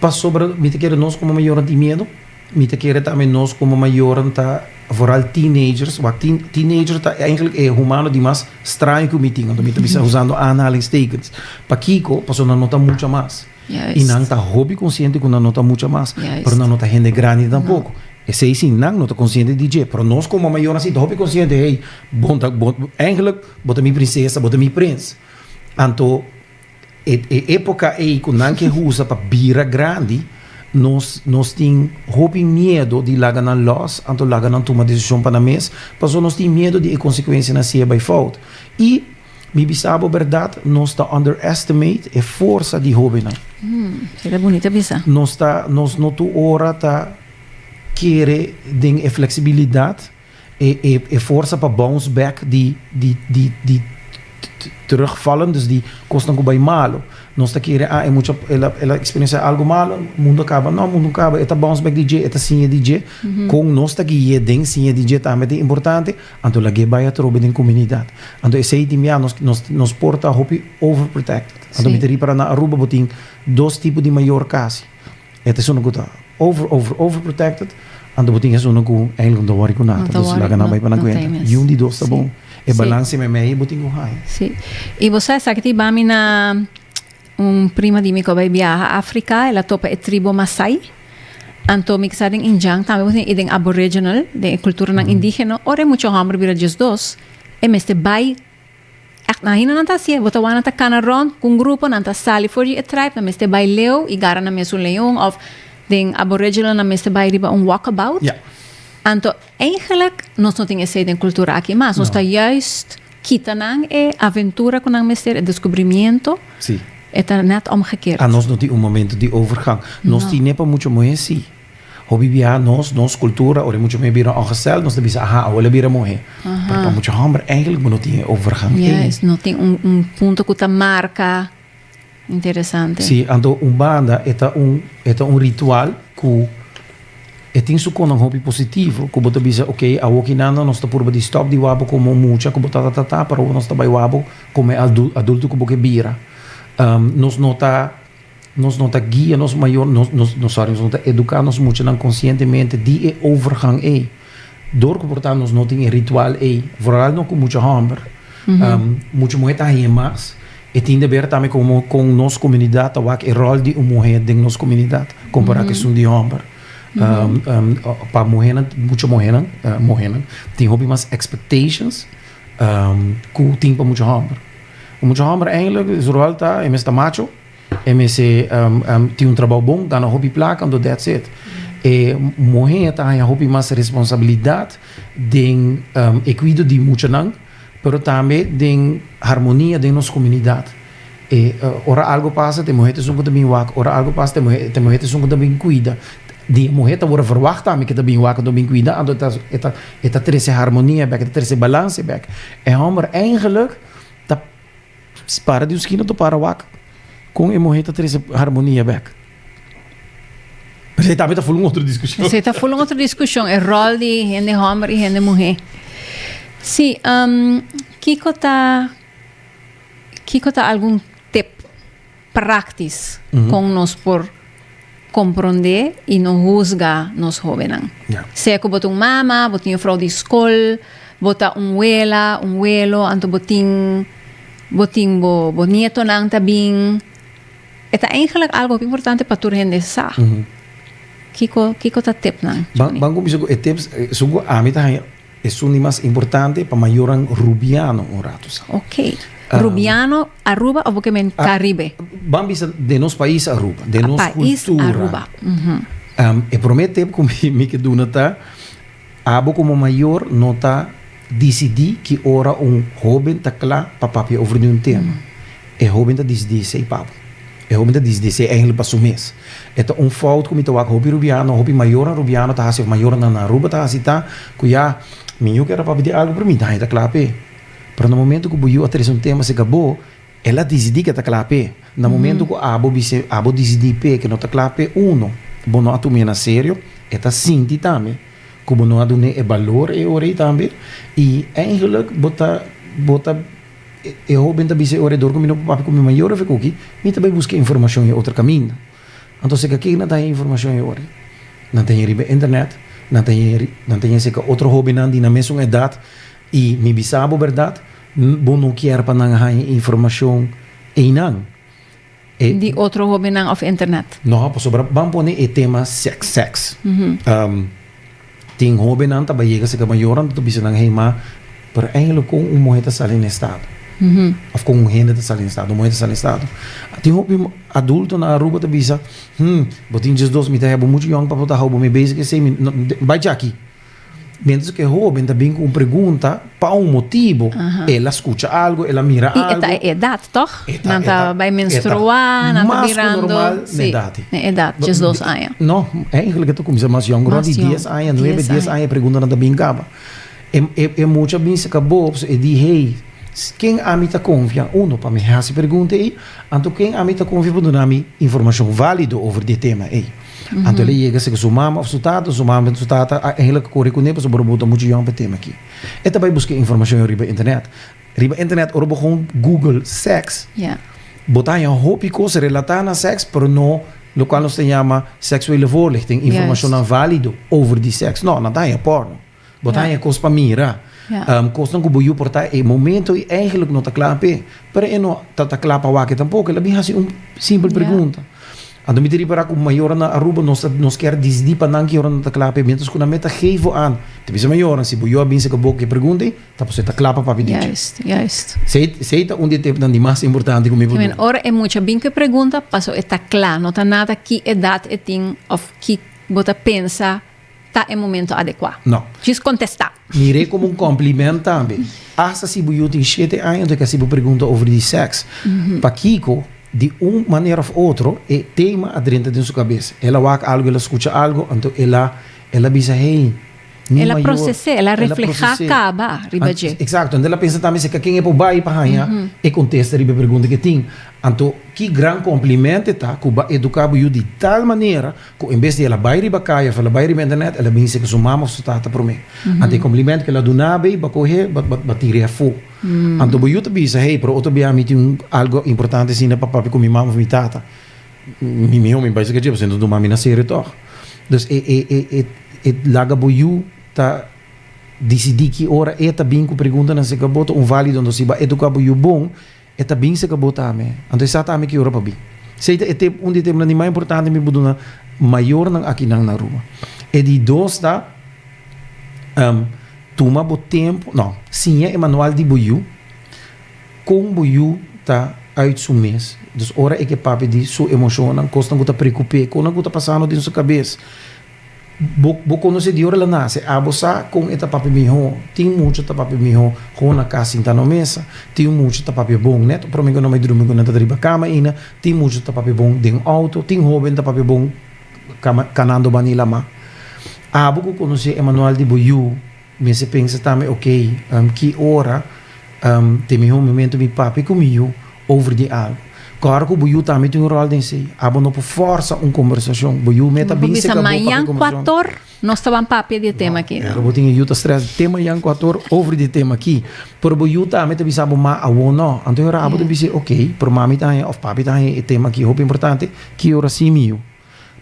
Pasobra mi ta kere nos como mayornan tin miedo, mi ta kere tambe nos como mayornan ta, vooral teenagers, wa teen, teenager ta eigenlijk e humano di mas straño cu mi tin, anto mi ta bisa usando aanhalingstekens. Pakico? Pasobra nan no ta mucha mas. I nan ta hopi konsiente ku nan no ta mucha mas, pero nan no ta hende grandi tampoko. Esei si nan no ta konsiente di dje. Pero nos komo mayornan si ta hopi konsiente, hey, bo ta, bo, eigentlik bo ta mi prinsesa, bo ta mi prins. Anto e, e époka ei ku nan ke usa pa bira grandi, nos, nos tin hopi miedu di laga nan lòs, anto laga nan tuma desishon pa nan mes, pasobra nos tin miedu di e konsekuensianan si e bai fout. I. Mi bisa bo berdad, nos ta underestimate e forsa di hobennan. Esa ta bunita bisa. Nos ta, nos no tur ora ta kere den e flexibilidad, e, e, e forsa pa bounce back di, di, di, di terugvallen, dus di kosnan ku bai malu. Nos ta kere, ah, e mucha, el a, el a experiencia algo malu, mundu a kaba. No, mundu no kaba, e ta bounce back di dje, e ta siña di dje. Kon nos ta gui'é den siña di dje tambe ta importante, Anto lag'é bai atrobe den kuminidad. Anto esei tin bia nos nos nos por ta hopi overprotected. Anto mi ta ripara na Aruba bo tin dos tipo di mayor kasi. E ta esun ku ta over over overprotected anto bo tin esun ku eindelijk no ta wòri ku nada. Entonces laga nan bai pana kuenta. Yu un di dos ta bon. E balans simi mei bo tin ku haña. Si. I bo sa esaki tin bami na. Un prima di mi ku a bai biaha Afrika, el a topa e tribu Masai. Anto mi sa den Injang tambe bo tin i den Aboriginal, den e kulturanan indígena, ora e mucha hòmber bira djis dos, e mester bai ègt. Nan ahinda nan ta hasié, bo ta wak nan ta kana rònt ku un grupo, nan ta sali for di e tribe, nan mester bai leu i gara nan mes un leon òf den Aboriginal nan mester bai riba un walkabout. Anto, eigenlik nos no tin esei den kultura akí mas nos ta juist Kita nan e aventura cu nan mester, e descubrimiento, Sí. e ta net omgekeerd. Anos no tin un momento di overgang. Nos tin e pa mucho muhe si. Hopi biaha nos, nos cultura, ora e mucho muhe bira ongesteld, nos ta bisa, aha, awo el a bira muhe. Pero pa mucho homber, eigenlijk bo no tin e overgang ei. Juist, no tin un, un punto cu ta marca. Interesante. Sí, anto un banda e ta un e ta un ritual ku e tin su konan hopi positivo, ku bo ta bisa ok, awokinanda nos ta purba di stòp di wak bo kome un mucha ku bo ta ta ta ta pero awo nos ta bai wak bo kome adulto ku bo ke bira. nos no ta nos no ta guia nos mayor nos nos nos sorry nos no ta eduká nos muchanan konsientemente di e overgang ei. Dor ku por ta nos no tin e ritual ei, vooralno ku mucha hòmber, mucha muhé ta hien mas, e tin deber tambe komo kon nos komunidat ta wak e ròl di un muhé den nos komunidat kompará kesun di hòmber. Pa muhénan, mucha muhénan, muhénan tin hopi mas expectations ku tin pa mucha hòmber. Mucha hòmber, èinklik su ròl ta e mes ta macho. E mes e tin un trabou bon, gana hopi plaka, anto dèts it. E muhé a ta haña hopi mas responsabilidat den e kuido di muchanan, pero tambe den harmonia den nos komunidat. E ora algu pasa t'e muhé t'esun ku ta bin wak, ora algu pasa t'e muhé t'esun ku ta bin kuida, di e muhé ta wòrdu verwagt tambe ku e ta bin wak, ku e ta bin kuida, anto e ta e ta e ta trese harmonia bèk, e ta trese balans bèk. E hòmber, eigenlik, ta. Spara di un skina ta para wak kon e muhé ta trese harmonia bèk. Esei tambe ta full un otro diskushon. Esei ta full un otro diskushon, e ròl di hende hòmber i hende muhé. Sí, kiko ta, kiko ta algun tip? praktis kon nos por komprondé i no husga nos hóbennan. Sea ku bo ta un mama, bo ta un jufrou di skol, bo ta un wela, un welo, anto bo tin bo tin bo bo nietonan ta bin, e ta eigenlijk algo hopi importante pa tur hende sa. Kiko kiko ta tep nan? Ban ban kuminsá ku e tips, esun ku ami ta haña Esun di mas importante pa mayoran Rubiano un ratu sa. Ok. Rubiano, Aruba o bo ke men Caribe? Ban bisa den nos pais Aruba, den nos kultura. Aruba. E promé tep ku mi ke duna ta, abo komo mayor no ta disidí ki ora un hóben ta kla pa papia over di un tema. E hóben ta disidí esei, papu. E hopi ta disde esei eindelijk pa su mes. E ta un fout ku mi ta wak hopi rubiano, hopi mayornan rubiano ta hasi of mayornan na Aruba ta hasi ta ku ya mi yu keda papia di algu pero mi daña ta kla p'e. Pero na momento ku bo yu a trese un tema serka bo, el a disidí ku e ta kla p'e. Na momento ku abo bis'e abo disidí p'e ku no ta kla p'e, uno, bo no a tum'e na serio, e ta sinti tambe ku bo no a dun'e e balor e ora ei tambe i eindelijk bo ta bo ta E hóben ta bisa e orador ku mi no por papia ku mi mayor of e kuki, mi ta bai buska e informashon e otro kaminda. Anto seka ken nan ta haña e informashon e ora? Nan ta haña riba e internet, nan ta haña ri, nan ta haña seka otro hóbennan di nan mesun edat, i mi bisa bo bèrdat, bo no kier pa nan haña e informashon einan. di otro hobennan of internet. No, pasobra ban pone e tema seks, seks. Tin hobennan ta bai yega serka mayornan ta bisa nan hei, ma, pero eindelijk kon un muhé ta sali na e stado? Of kon un hende ta sali na e stado, un muhé ta sali na e stado? Tin hopi adulto na Aruba ta bisa, Hm, bo tin djesdos, mi ta heba muchu yòn pa bo ta hou bo mi bezig esei, mi no, bai djaki. Mientras ku e hoben ta bin ku un pregunta, pa un motibu. El a skucha algu, el a mira algu. I e ta e edat, tòg? Nan ta bai menstruá, nan ta birando. Si, na edat djes dos aña. No, èinklik e ta kuminsá mas yòn, rònt di dies aña, nuebe, dies aña e preguntanan ta bin kaba. E mucha a bin sika bob, so e di, hey, ken ami ta konfia? Uno, pa mi hasi pregunta ei, anto ken ami ta konfia pa duna mi informashon válido over di e tema ei? Anto el a yega si ke su mama of su tata, su mama su tata a eindelijk kore kuné pasobra bo bo ta muchu yòn pa e tema aki. E ta bai buska informashon riba internet. Riba internet ora bo kon google sèks, bo ta haña hopi kos relatá na sèks pero no lokual nos ta yama seksuele voorlichting, informashonnan válido over di sèks. No, nan ta haña pòrno. Bo ta haña kos pa mira. Um, kosnan ku bo yu por ta e momento i eigenlijk no ta kla p'e. Pero e no ta ta kla pa wak tampoko. El a bin hasi un simpel pregunta. Anto mi ta ripará ku mayornan na Aruba nos ta nos kier disdi pa nan ki ora nan ta kla p'e miéntras ku nan mei ta gevo an. Ta bisa mayornan si bo yu a binse ku bo ku e pregunta ei, ta pasobra e ta kla pa Papi Dicho. Juist, juist. Esei esei ta un di e tempunan di mas importante ku mi por duna. Ora e mucha bin ku e pregunta, paso e ta kla. No ta nada ki edat e tin òf ki bo ta pensa ta e momento adekua? No. Djis kontestá. Mir'é komo un komplimènt tambe. Asta si bu yu tin shete aña anto e ka hasi bo pregunta over di sèks. Pakiko, di un manera òf otro, e tema a drenta den su kabes. El a wak algu, el a skucha algu, anto el a el a bisa, Hey, mi mayor. El a proses'é, el a reflehá kaba riba dje. Eksakto. Anto el a pensa tambe si e ka ken e por bai pa haña e kontesta riba e pregunta ku e tin. Anto, ki gran komplimènt e ta ku bo a eduká bo yu di tal manera. cu en bes di el a bay riba caye of el a bay riba internet, el a bin seca su mama of su tata prome. Anto e compliment cu el a duna bay ba coge, ba tira e afo. Anto bo yu ta bisa, hey, pero otro bia mi tin un algo importante asina pa papia cu mi mama of mi tata, mi miho mi bay seca dje, pasobra nan ta tuma mi na serio tog. Dus e e laga bo yu ta dicidi ki ora e ta bin cu preguntanan seca bo ta un valido. Anto si bo a educa bo yu bon, E ta bin seka bo ta ami, anto e sa ta ami ki ora pa bin. Sei ta e tem, un di e temnan di mas importante mi por duna mayornan akinan na Aruba. E di dos ta, em, tuma bo tempo, no, siña e manual di bo yu, kon bo yu ta uit su mes. Dus ora e ke papia di su emoshonnan, kosnan ku ta preokup'é, kosnan ku ta pasando den su kabes. Bo conoce di ora el a nace, abo sa con e ta papia miho, tin mucha ta papia miho con na cas sinta no mesa, tin mucha ta papia bon net, prome cu nan bay drumi cu nan ta ta riba cama ayina, tin mucha ta papia bon den auto, tin hoben ta papia bon canando bani laman. Abo cu conoce e manual di bo yu. Mester pensa tambe, ok, ki ora ta e mihó momento mi papia ku mi yu over di algu? Kòrda ku bo yu tambe tin un ròl den esei. Abo no por fòrsa un kombersashon. Bo yu mester ta bin seka bo papia konversashon. Bo por bisa, Mañan kuator nos ta ban papia di e tema aki. No, bo tin e yu ta strèsa te mañan kuator over di e tema aki. Pero bo yu tambe ta bisa bo ma, awor no. Anto e ora abo ta bisa, ok, pero mami ta haña òf papi ta haña e tema aki hopi importante, ki ora sí mi yu?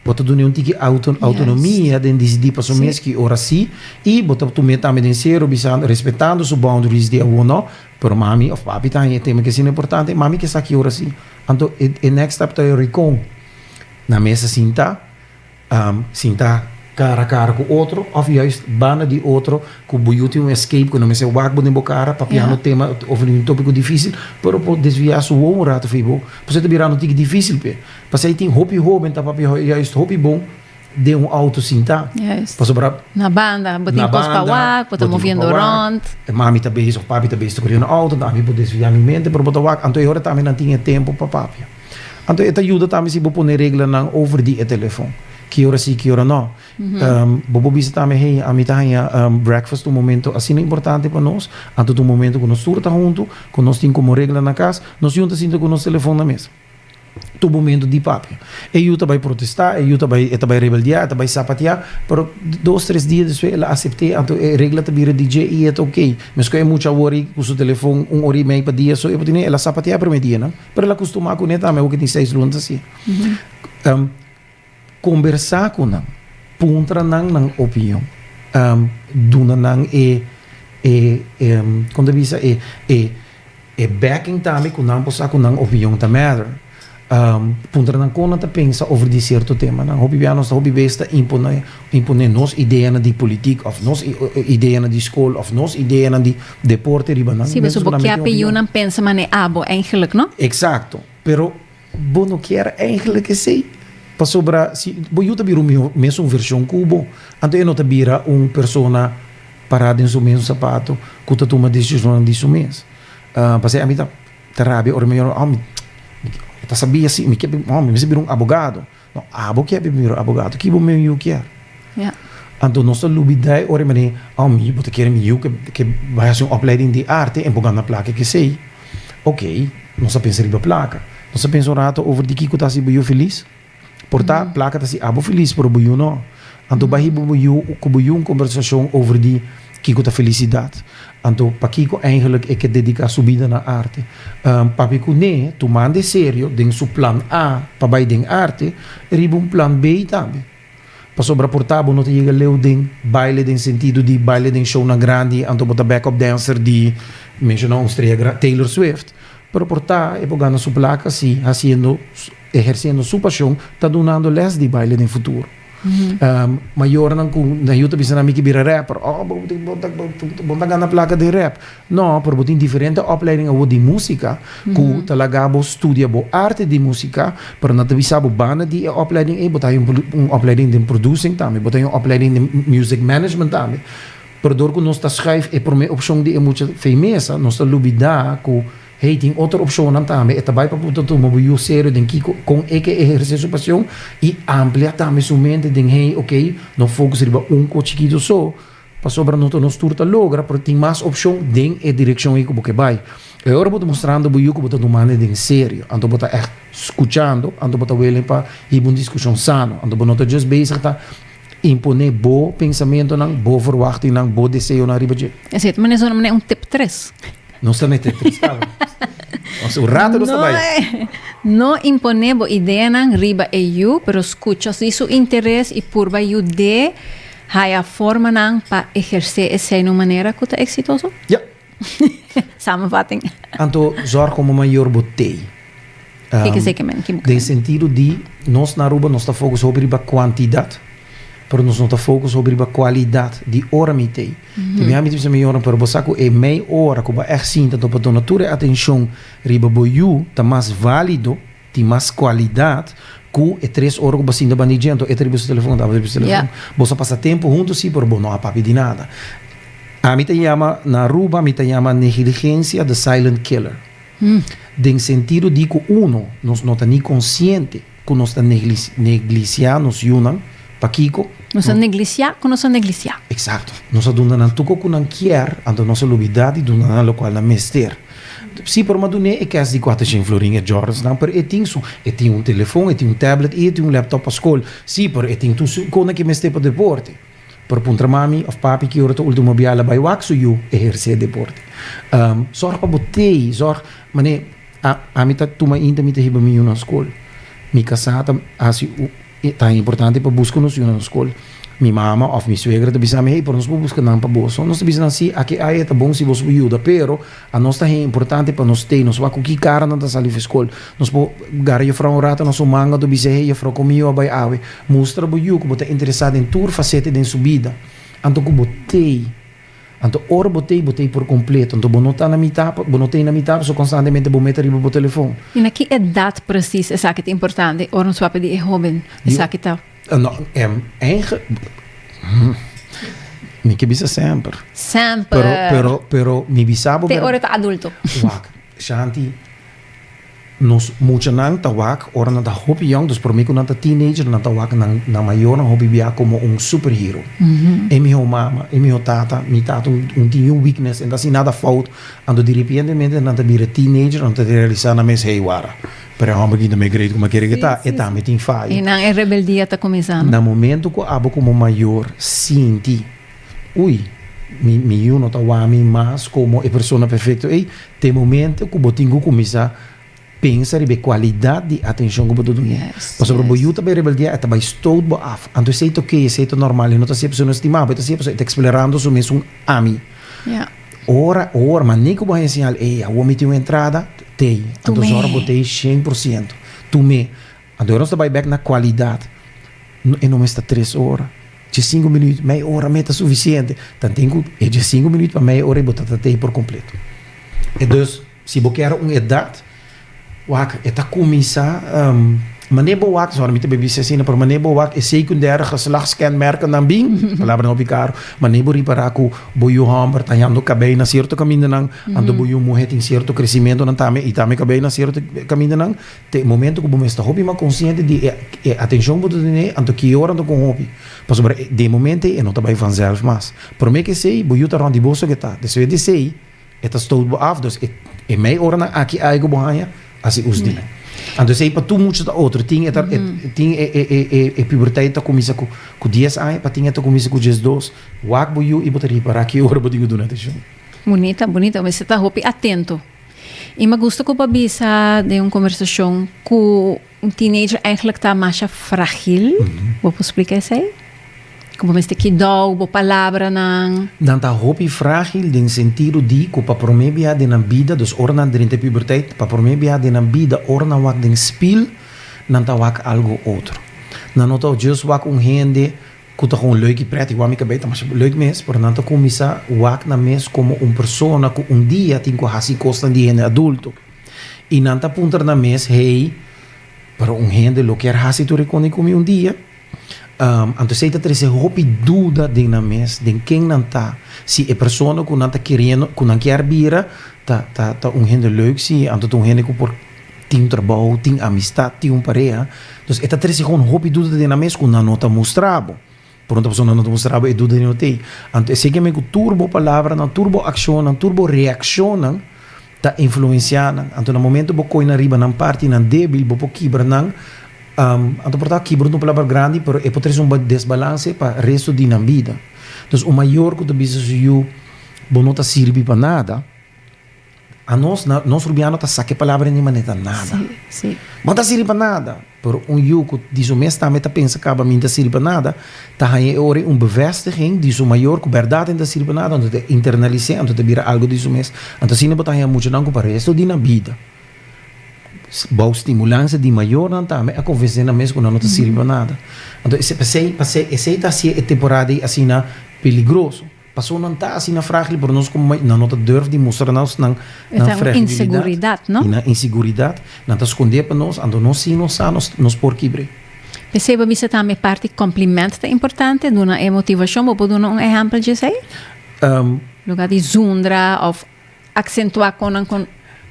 Bo ta duna un tiki autonomia den disidí paso mes ki ora sí i bo ta tum'é tambe den sero bisando, respetando su boundaries di awor no. Pero mami òf papi ta haña e tema ki asina importante, mami ke sa ki ora sí. Anto e e next step ta yòri kon? Na mesa sinta, sinta kara a kara ku otro òf juist banda di otro ku bo yu tin un escape ku no mester wak bo den bo kara pa pian un tema òf un tópiko difísil, pero por desviá su wou un rato fei bo. Pasobra e ta birando un tiki difísil p'e. Pasei tin hopi hóben ta papia juist hopi bon den un auto sintá. Juist. Pasobra. Na banda, bo tin kos pa wak, bo ta moviendo rònt. E mami ta bezig òf papi ta bezig ta kore na auto, ami por desvia mi mente, pero bo ta wak. Anto e hora tambe nan tin e tempu pa papia. Anto e ta yuda tambe si bo pone reglanan over di e telefòn, ki ora sí, ki ora nò. Bo por bisa tambe, hey, ami ta haña breakfast un momentu asina importante pa nos, anto ta un momentu ku nos tur ta huntu, ku nos tin komo regla na kas, nos yunta sinta ku nos telefòn na mes. tur momentu di papia. E yu ta bai protesta, e yu ta bai e ta bai rebeldia, e ta bai sapatia, pero dos tres dia despues el a asepte, anto e regla ta bira di dje y e ta ok. Mes cu e mucha a worry cu su telefon un ora y mei pa dia, so e por tin e el a sapatia e primer dia nan, pero el a custuma cune tambe awo cu tin seis luna ta hacia. Kombersá ku nan. Puntra nan nan opinion. Duna nan e, e, e, kon ta bisa? E, e, e backing tambe ku nan por sa ku nan opinion ta matter. Puntra nan kon nan ta pensa over di sierto temanan. Hopi bia nos ta hopi bes ta imponé, imponé nos ideanan di politik òf nos ideanan di skol òf nos ideanan di deporte riba nan. Si, pasobra bo kier p'e yunan pensa manera abo, eigenlijk, no? Eksakto, pero. Bo no kier eindelijk esei, pasobra si bo yu ta bira un mihó mesun vershon ku bo, anto e no ta bira un persona pará den su mesun sapato ku ta tuma desishonnan di su mes. P'esei ami ta rabia ora mi ora, oh, mi ta sabia si, mi mester bira un abogado. No, abo kier primero abogado ki bo men yu kier. Anto nos ta lubida e ora i manera, oh mi yu, bo ta kere mi yu ke bai hasi un opleiding di arte en por gana plaka i kesei. Ok, nos ta pensa riba plaka. Nos ta pensa un rato over di kiko ta hasi bo yu filis. Por ta, plaka ta hasi abo filis pero bo yu no. Anto bai hiba bo yu, ku bo yu un kombersashon over di. Kiko ta felisidat? Anto pakiko eindelijk e ke dediká su bida na arte? Pape Kuné tumande serio den su plan A pa bai den arte, riba un plan B tambe. Pasobra por ta bo no ta yega leu den baile den sentido di baile den shownan grandi anto bo ta backup dancer di, menshoná un strea grandi, Taylor Swift, pero por ta e por gana su plaka si hasiendo, ehersiendo su pashon, ta dunando lès di baile den futuro. Mayornan ku na yu ta bisa na mi ki bira rapper, oh bo tin bo ta bo ta gana plaka den rap. No, pero bo tin diferente opleiding awor di musika ku ta laga bo studia bo arte di musika, pero nan ta bisa bo banda di e opleiding ei bo ta haña un opleiding den producing tambe, bo ta haña un opleiding den music management tambe. Pero dor ku nos ta schuif e promé opshon di e mucha feimesa, nos ta lubidá ku. Hey tin otro opcionnan tambe, e ta bai pa cu ta tuma bo yu serio den kico, con e ke eherce su pasion y amplia tambe su mente den hey ok, no focus riba un cos chikito so, pasobra no ta nos tur ta logra, pero tin mas opcion den e direccion ey cu bo ke bai. E ora bo ta mostrando bo yu cu bo ta tumando e den serio, anto bo ta echt scuchando, anto bo ta welen pa hiba un discusion sano, anto bo no ta just bezig ta. Imponé bo pensamentonan, bo verwachtingnan, bo deseonan riba dje. E siete manersona manera un tip tres. Nos ta mete tres tabra. Nos un rato nos ta bai. No imponé bo ideanan riba e yu, pero scucha si su interes i purba yud'é haya formanan pa ehersé esei na un manera cu ta exitoso. Ja. Samenvatting. Anto zorg como mayor bo tei. Um, Kiko zeker men, kiko Den sentido di, nos na Aruba nos ta focus hopi riba kwantidad, pero nos no ta focus hopi riba kwalidad di ora mi tei. Te mi hami te bisa mi yoran, pero bo sa ku e mei ora ku bo echt sinta ta pa dona tur e atencion riba bo yu ta mas valido, Tin mas kualidat ku e tres ora ku bo sinta bandij djento, e ta riba su telefon, ta riba su telefon. Boso a pasa tempu huntu si, pero bo no a papia di nada. Ami ta yama, na Aruba mi ta yama negiligensia the silent killer. Den sentido di ku uno, nos no ta ni konsiente ku nos ta neglisiá nos yunan, Pakiko? Nos a neglisiá ku nos a neglisiá. Eksakto. Nos a duna nan toko ku nan kier, anto nos a lubidá di duna nan lokual nan mester. Sí, por Madunee e kèst di kuater shen florin e Jordans-nan, pero e tin su. E tin un telefòn, e tin un tablet i e tin un lèptòp pa skol. Sí, pero e tin tur su kosnan ke e mester pa deporte. Por a puntra mami òf papi ki ora ta último bia el a bai wak su yu ehersé deporte. Zòrg pa bo tei, zòrg manera, a, ami ta tuma inter mi ta hiba mi yu na skol. Mi kasá ta hasi. Ta importante pa buska nos yunan skol. Mi mama òf mi suegra ta bisa mi, Hey, por nos por buska nan pa bo. So nos ta bisa nan, Sí, aki aya ta bon si boso por yuda, pero a nos ta hen importante pa nos tei, nos wak ku ki kara nan ta sali fu skol. Nos por gara Jufrou un ratu na su manga tur bisa, Hey, Jufrou, kon mi yu a bai awe? Mustra bo yu ku bo ta interesá den tur fasete den su bida anto ku bo tei. Anto ora bo t'ei, bo t'ei por kompleto. Anto bo no ta na mitá, bo no t'ei na mitá, pasobra konstantemente bo mete riba bo telefon. I na ki edat presis esaki ta importante? Ora un suape di e hóben esaki ta. Mi ke bisa semper. Semper. Pero, pero, pero mi bisa bo. Te ora e ta adulto. Wak, Shanti. Nos muchanan ta wak ora nan ta hopi yòng, dus promé ku nan ta teenager nan ta wak nan nan mayornan hopi bia komo un superhero. E mihó mama, e mihó tata, mi tata un tin yu weakness, e no ta hasi nada fout, anto diripientemente nan ta bira teenager, nan ta realisá nan mes hey wara, pero e hòmber kinda me great kuma kere ke ta, e tambe tin fayo. I nan e rebeldia ta kuminsá. Na momentu ku abo komo mayor sinti. Ui, mi mi yu no ta wami mas komo e persona perfekto ei. Ta e momentu ku bo tin ku kuminsá pensa riba e kualidat di atenshon ku bo ta duna. Pasobra yes. bo yu ta bai rebeldiá, e ta bai stout bo af. Anto esei ta oké, esei ta normal, e no ta hasié persona stimá bo, e ta hasié persona, e ta eksplorando su mes un ami. Yeah. Ora, ora, manei ku bo a enseñal, ei, awor mi tin un entrada, tei. Anto zòrg bo tei shen por siento. Tum'é. Anto nos ta bai bek na kualidat, e no mester tres ora, dje sinku minüt, mei ora mei ta sufisiente. Tanten ku e dje sinku minüt pa mei ora ei bo ta ta tei por kompleto. E dus, si bo kèra un edat wak e ta kuminsá, mané bo wak, sorry mi ta bai bisa asina, pero mané bo wak e sekundêre geslachtskenmerkennan bin, palabra hopi karu, mané bo ripará ku bo yu hòmber ta heando kabei na sierto kamindanan, anto bo yu muhé tin sierto kresimentonan tambe i tambe kabei na sierto kamindanan, Ta e momento cu bo mester hopi mas consciente di e atencion cu bo ta tene anto ki ora anto con hopi, pasobra di e momento ei e no ta bay vanzelf mas. Prome kesey, bo yu ta rond di boso geta, despues di esey e ta stoot bo af, dus e mei oranan aki ay cu bo haya, haci us di. Anto esey pa tur mucha ta otro, tin e ta tin e puberteit ta cuminsa cu dies aña, pa tin e ta cuminsa cu diesdos, wak bo yu y bo ta ripara ki ora bo tin cu duna atencion. Bunita, bunita, bo mester ta hopi atento. I ma gusta ku pa bisa den un kombersashon ku un teenager eigenlijk ta masha fragil. Bo por splika esei? Ku bo mester kidou bo palabranan. Nan ta hopi fragil den sentido di ku pa promé biaha den nan bida, dus ora nan drenta e puberteit, pa promé biaha den nan bida ora nan wak den spil, nan ta wak algu otro. Nan no ta jus wak un hende Cu ta con leuk y pret y wami cabei ta masha leuk mes, pero nan ta cuminsa wak nan mes como un persona cu un dia tin cu haci cosnan di hende adulto. Y nan ta puntra nan mes, hey, pero un hende lo kier haci tur riconde cu mi un dia? Anto esey ta trece hopi duda den nan mes, den ken nan ta, si e persona cu nan ta keriendo, cu nan kier bira ta, ta, ta un hende leuk, si anto ta un hende cu por. Tin trabou, tin amistat, tin un pareha. Entonces e ta trece con hopi duda den nan mes cu nan no ta mustrabo. Pronto pasobra nan no ta mustrabo e duda di no ta ey. Anto esey ke men cu tur bo palabranan, tur bo accionnan, tur bo reaccionnan ta influencia nan. Anto na momento bo coy nan riba nan partinan debil bo por kibra nan. Anto por taba kibra un palabra grandi pero e por trece un desbalance pa resto di nan bida. Entonces un mayor cu ta bisa su yu bo no ta sirbi pa nada Anos na nos rubiano ta sa ke palabra ni manera ta nada. No ta sirbi pa nada. Pero un yu ku di su mes tambe ta pensa kaba mi no ta sirbi pa nada, ta haña e ora un bevestiging di su mayor ku bèrdat e no ta sirbi pa nada, anto ta internalis'é, anto ta bira algu di su mes. Anto asina bo ta haña muchanan ku pa resto di nan bida, bou stimulansia di mayornan tambe a konvens'é nan mes ku nan no ta sirbi pa nada. Anto esei, esei ta hasié e temporada ei asina peligroso. Paso nan ta asina fragil pero nos como nan no ta durf di mustra nos nan fragibilidad y nan insiguridad, nan ta scondé pa nos, anto nos sin nos sa nos por kibre. P'esei bisa tambe parti compliment ta importante, duna e motivacion, bo por duna un ehempel dje esei? Luga di zundra of. Aksentuá kon nan kon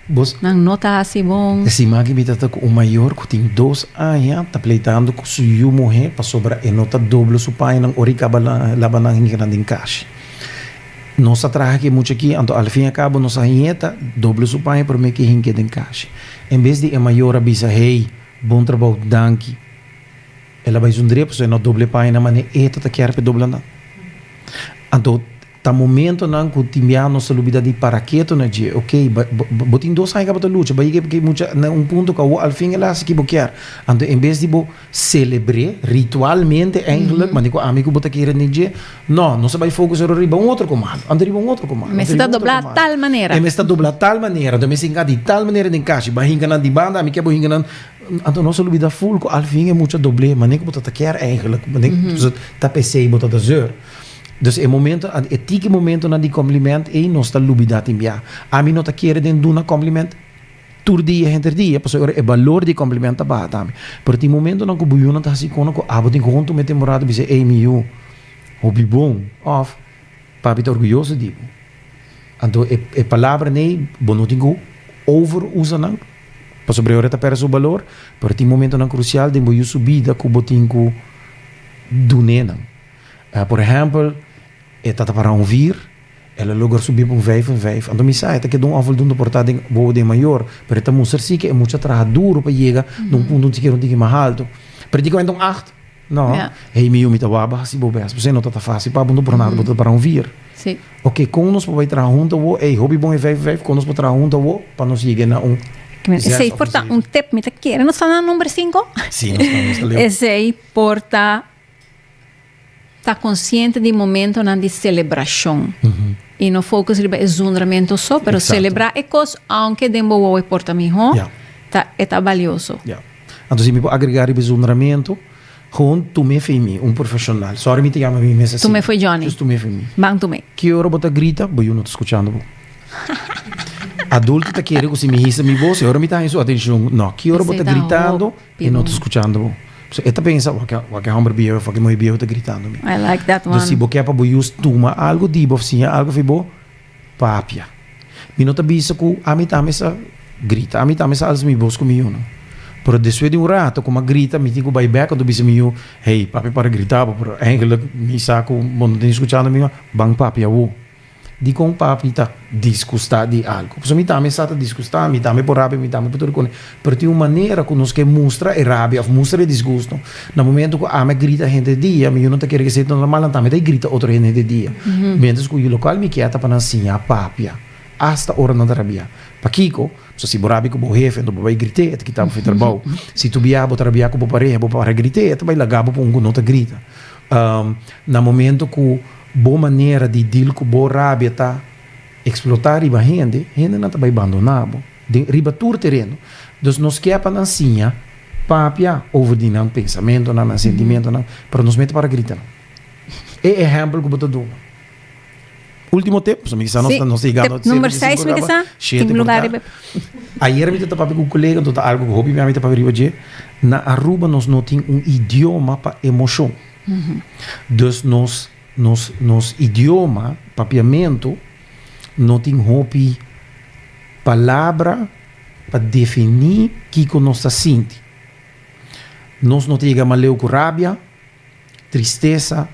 Bos nan no ta hasi bon. E siman aki mi ta ta ku un mayor ku tin dos aña ta pleitando ku su yu muhé pasobra e no ta doblo su pañanan ora i kaba laba nan hinga nan den kashi. Nos a traha ku e mucha aki, anto alfiñakabo nos a hieta doblo su paña promé ke hinke den kashi. En bes di e mayor a bisa, Hei, bon trabou, danki, el a bai su ndrep pasobra e no a doblo e pañanan, mané e ta ta kier pa e dobla nan. Anto. Ta momentonan cu tin biaha nos ta lubida di para keto na dje. Ok, bo tin dos aña ca bo ta lucha, bai ke mucha na un punto cu awor al fin el a haci ki bo kier. Anto en bes di bo celebre ritualmente eigenlijk, manera cu ami cu bo ta kere den dje, no, nos a bai focus ora riba un otro comando, anto riba un otro comando. E mes ta dobla tal manera. E mes ta dobla tal manera, anto e mes ta hinca di tal manera den cashi. Bai hinca nan di banda, ami kier bo hinca nan. Anto nos a lubida full cu al fin e mucha doble manera cu bo ta ta kier eigenlijk, manera cu ta pesey bo ta ta zeur. Dus e momento, e tiki momentonan di compliment ey nos ta lubida tin bia. Ami no ta kere den duna compliment tur dia henter dia, pasobra ora e balor di compliment ta baha tambe. Pero tin momentonan cu bo yunan ta haci cona cu abo tin cu hunto meten bo rato bis'e ey mi yu hopi bon of papi ta orguyoso di bo. Anto e e palabranan ey bo no tin cu over usa nan pasobra e ora ta perde su balor, pero tin momentonan crucial den bo yu su bida cu bo tin cu dun'e nan. Por ehempel, e tata para un vir, el a logra subi pa un vijf en vijf, anto mi sa e ta keda un òfel dunda por ta den bobo den mayor, pero e ta mustra si ke e mucha a traha duro pa yega na un punto un sikier un tiki mas alto. Practicamente un acht, no? Hey mi yumi ta waba hasi bo bes, pasobra no ta ta fácil pa bo, anto por nada bo ta para un vir. Oke, kon nos por bai traha huntu awo? Hey, hopi bon e vijf en vijf, kon nos por traha huntu awo pa nos yega na un zes òf un zeven? Esei por ta un tip, mi ta kere nos ta na number sinku? Sí, nos ta, nos ta leu. Esei por ta. ta consciente di momentonan di celebracion y no focus riba e zundramentu so, pero celebra e cos aunke den bo wou e porta miho, ta e ta balioso. Ya. Anto si mi por agrega riba e zundramentu, Gewoon Tume Fe Mi, un profesional. Sorry mi ta yama mi mes asina. Tume Fe Johnny. Just Tume Fe Mi. Ban Tume. Ki ora bo ta grita, bo yu no ta scuchando bo. Adulto ta kere cu si mi hisa mi voz y ora mi ta haña su atencion. No. Ki ora bo ta gritando. E no ta skuchando bo. So e ta pensa, Wa ke hòmber biehu, fòk e muhé biehu ta gritando mi. I like that one. Entonces si bo ke pa bo yus tuma algu di bo òf siña algu for bo, papia. Mi no ta bisa ku ami ta mester grita. Ami ta mester alza mi bos ku mi yu no. Pero despues di un rato ku mi a grita, mi tin ku bai bèk kòntu bisa mi yu, Hey, papi para grita bo, pero eigelik mi sa ku bo no ta ni skuchando mi, ban papia awo. Dikon papi ta disgustá di algu? Pasobra mi tambe sa ta disgustá, mi tambe por rabia, mi tambe por tur kosnan. Pero tin un manera ku nos ke mustra e rabia òf mustra e disgusto. Na momentu ku ami a grita hende dia, mi yu no ta kere ku esei ta normal, nan tambe ta grita otro hende hende dia. Miéntras ku yu lokal mi kia ta pa nan siña papia asta ora nan ta rabiá. Pakiko? Pasobra si bo rabia ku bo hefe, enton bo bai grit'é, e ta kita bo fu trabou. Si tu biaha bo ta rabiá ku bo pareha, bo pareha grit'é, e ta bai laga bo pa un ku no ta grita. Na momento ku bo manera di dil ku bo rabia ta eksplotá riba hende, hendenan ta bai bandoná bo den riba tur tereno. Dus nos ke pa nan siña papia over di nan pensamentonan, nan sentimentonan, pero nos mester para grita nan. E ehèmpel ku bo ta duna. Último tip, so mi kisa nos, nos llegando tip number 6 mi kisa, tin lugar riba. Ayer mi te papi ku kolega, to ta algo ku hopi mi te papi riba je. Na Aruba nos no tin un idioma pa emoshon. Mm -hmm. Dus nos nos nos idioma, papiamento, no tin hopi palabra pa defini kiko nos ta sinti. Nos no ta yega maleu ku rabia. tristesa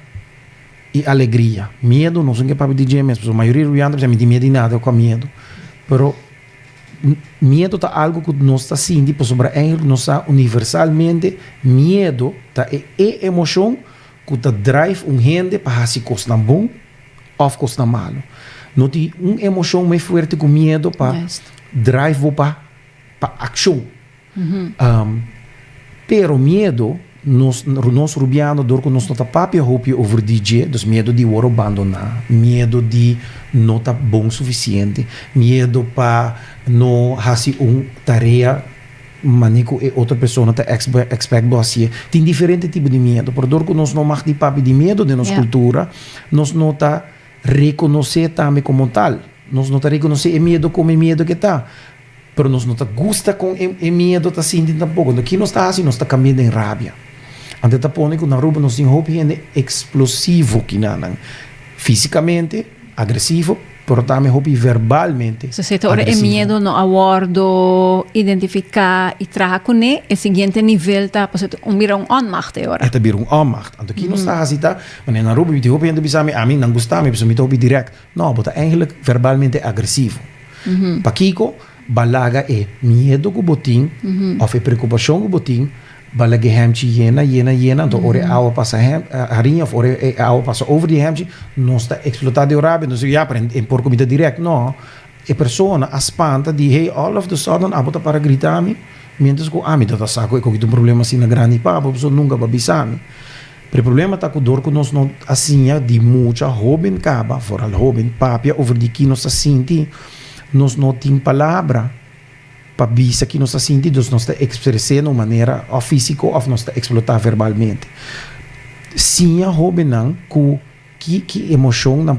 i alegria. Miedu nos un ke papia di dje mes, pasobra mayoria di ruwanta bisa, Mi tin miedu di nada, kua miedu? Pero, miedu ta algu ku nos ta sinti pasobra e nos sa universalmente miedu ta e e emoshon ku ta drive un hende pa hasi kosnan bon òf kosnan malu. No tin un emoshon me fuerte ku miedu pa drive bo pa. pa akshon. Pero miedo, nos nos rubiano dor ku nos no ta papia hopi over di dje, dus miedo di wòrdu bandoná, miedo di no ta bon sufisiente, miedo pa no hasi un tarea manera ku e otro persona ta ekspèk bo hasié. Tin diferente tipo di miedo, pero dor ku nos no mag di papia di miedo den nos kultura, nos no ta. Rekonos'é tambe komo un tal. Nos no ta rekonos'é e miedo komo e miedo k'e ta, pero nos no ta gusta kon e e miedo ta sinti tampoko. Enton ki nos ta hasi? Nos ta kambia den rabia. Anto ta pone ku na Aruba nos tin hopi hende eksplosivo ki na nan físikamente agresivo, pero tambe hopi verbalmente agresivo. Sosete ora e miedo no a wòrdu identifiká i traha kuné, e siguiente nivel ta pasó ta un bira un onmacht e ora. E ta bira un onmacht. Anto ki nos ta hasi ta Mane nan roba biti, hopi hende a bisa mi, ami nan gusta mi pasobra mi ta hopi dirèk. No, bo ta èigelik verbalmente agresivo. Pakiko? Ba laga e miedu ku bo tin òf e preokupashon ku bo tin, ba laga e hèmchi yena, yena, yena. Anto ora e awa pasa hariña òf ora e awa pasa over di e hèmchi, nos ta eksplotá di un rabia. Nos ta biba, ya pero e por ku mi ta dirèk. No, e persona a spanta di, hey, all of the sudden abo ta para grita mi, miéntras ku ami ta ta sa ku e kogit un problema asina grandi papu, pasobra nunka bo a bisa mi. Pero e problema ta ku dor ku nos no a siña di mucha hóben kaba, foral hóben, papia over di ki nos ta sinti, nos no tin palabra pa bisa ki nos ta sinti, dus nos ta ekspres'é na un manera òf físiko òf nos ta eksplotá verbalmente. Siña hóbennan ku. Ki ki emocionnan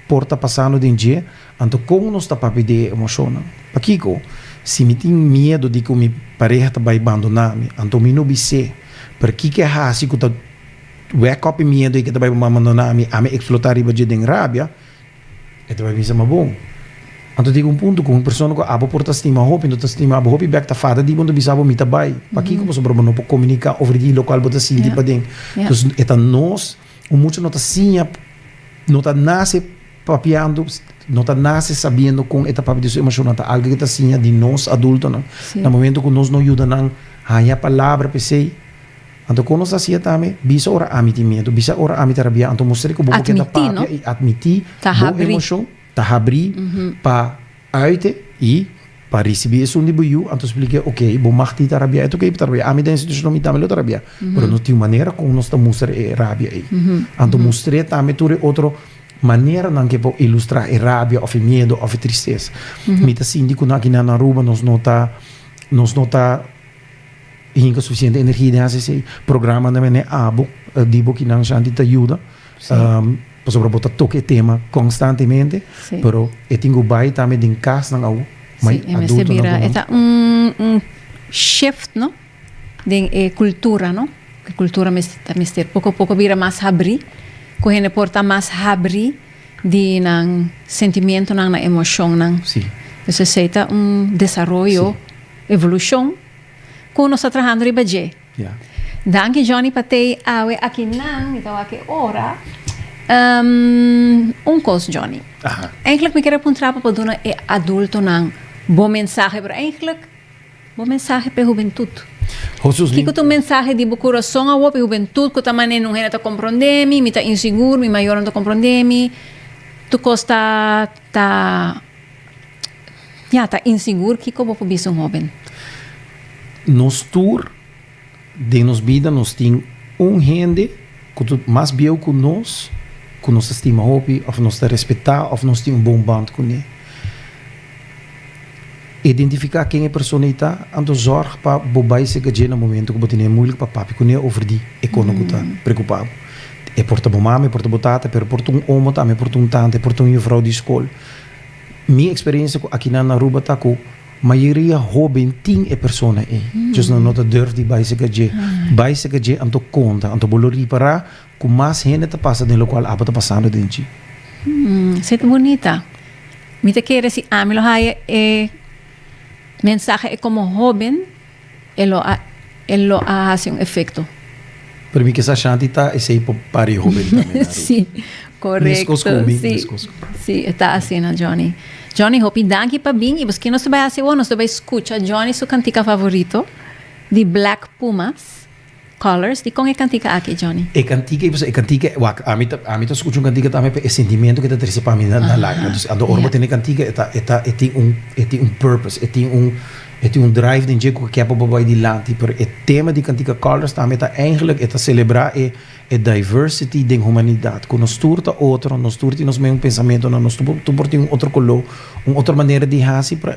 por ta pasando den dje, anto con nos ta papia di e emocionnan? Pakico? Si mi tin miedo di cu mi pareha ta bay bandona mi, anto mi no bis'é. Pero kico e haci cu ta wek op e miedo cu e ta bay bandona mi, ami explota riba dje den rabia? E ta bay bisa ma bon. Anto diga un punto cu un persona cu abo por ta stima hopi, no ta stima abo hopi bek ta fada di bo, anto bisa abo mi ta bay. Pakico? Pasobra bo no por comunica over di locual bo ta sinti paden. Entonces e ta nos. Un mucha no ta siña, no ta nase papiando, no ta nase sabiendo kon e ta papia di su emoshonnan. Ta algu ke ta siña di nos adultonan. Na momento ku nos no yuda nan haña palabra pa esei. Anto kon nos ta hasié tambe? Bisa ora ami tin miedu, bisa ora ami ta rabiá, anto mustr'e ku bo bo ke ta papia i atmití bo emoshon. Ta habrí pa uiten i pa risibí esun di bo yu, anto spliké, ok, bo mag tin ta rabiá, et ok, bo ta rabiá, ami ta den e situashonnan, mi tambe lo ta rabiá, pero nos tin manera kon nos ta mustra e rabia ei. Anto mustr'é tambe tur e otro maneranan ke por ilustrá e rabia òf e miedu òf e tristesa. Mi ta sinti ku nan akinan na Aruba nos no ta nos no ta hinka sufisiente energi den hasi esei programanan, menen abo di bo kinan Shanti ta yuda. Pasobra bo ta toca e tema constantemente, pero e tin cu bay tambe den casnan awo, may adultonan cu no. Esta un shift no, den e cultura no, e cultura ta mester poco a poco bira mas habri, cu hende por ta mas habri di nan sentimientonan, nan emocionnan. Entonces esey ta un desaroyo, evolucion, cu nos ta trahando riba dje. Danki Johnny pa tei awe aki nan mi ta wak e ora un kos Johnny eindelijk mi kier a puntra pa bo duna e adulto nan bo mensahe pero eindelijk bo mensahe p'e hubentut kiko ta un mensahe di bo kurason awor p'e hubentut ku ta mane nun hende ta kompronde mi mi ta insigur mi mayornan ta kompronde mi tur kos ta ta. Ya, ta insigur. Kiko bo por bisa un hóben? Nos tur den nos bida nos tin un hende ku ta mas bieu ku nos, ku nos ta stima hopi òf nos ta respektá òf nos tin un bon bònt kuné. Identifiká ken e persona ei ta, anto zòrg pa bo bai serka dje na momentu ku bo tene muilik pa papia kuné over di e kona ku ta preokupá bo. E por ta bo mama, e por ta bo tata, pero e por ta un omo tambe, e por ta un tanta, e por ta un yufrou di skol. Mi experiencia cu akinan na Aruba ta cu mayoria hoben tin e persona ey. Djos nan no ta durf di bay seca dje. Bay seca dje anto conta, anto bo lo ripara cu mas hende ta pasa den locual aba ta pasando den dje. Sey ta bunita. Mi ta kere si ami lo haya e mensahe ey como hoben. e lo a hasi un efekto. Pero mi kisa Shanti ta esei pa pare hoben ta mena Ruth. Si, korekto. Meskos ku mi, meskos ku. Si, e ta asina Johnny. Johnny, hopi danki pa bin i boskei nos ta bai hasi awor? Nos ta bai skucha Johnny su kantika favorito di Black Pumas. Colors, di kon e kantika aki, Johnny? E kantika i e kantika wak ami ta ami ta skucha un kantika tambe pa e sentimentu ke ta trese pa mi na lágrima entonces anto ora bo tene kantika e ta e ta e tin un e tin un purpose e tin un e tin un drive den dje ku ke pa bo bai dilanti pero e tema di kantika colors tambe ta eigenlik e ta selebrá e e diversity den humanidat ku nos tur ta otro nos tur tin nos meun pensamentu nan nos tur por tin un otro koló un otro manera di hasi pra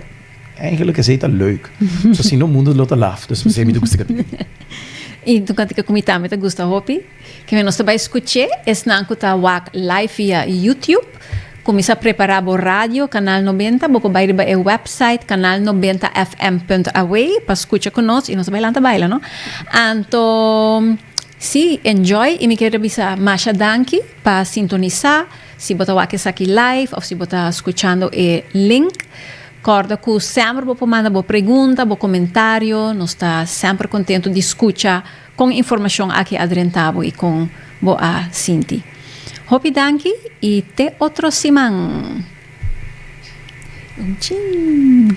Eigenlijk esei ta leuk. So si no mundo lo ta laf. Dus pasei mi ta gusta kapina di. I tocante ke ku mi tambe ta gusta hopi, ke me nos ta bai skuch'é esnan ku ta wak live via YouTube. Ku mi sa prepará bo radio Kanal Nobenta, bo por bai riba e wèpsait kanalnobentafm.aw pa skucha ku nos i nos ta bai lanta baila, no. Anto sí, enjoy i mi kere bisa masha danki pa sintonisá. Si bo ta wak esaki live of si bo ta scuchando e link, corda cu semper bo por manda bo pregunta, bo comentario, nos ta semper contento di scucha con informacion aki a drenta bo y con bo a sinti. Hopi danki y te otro siman! Chin!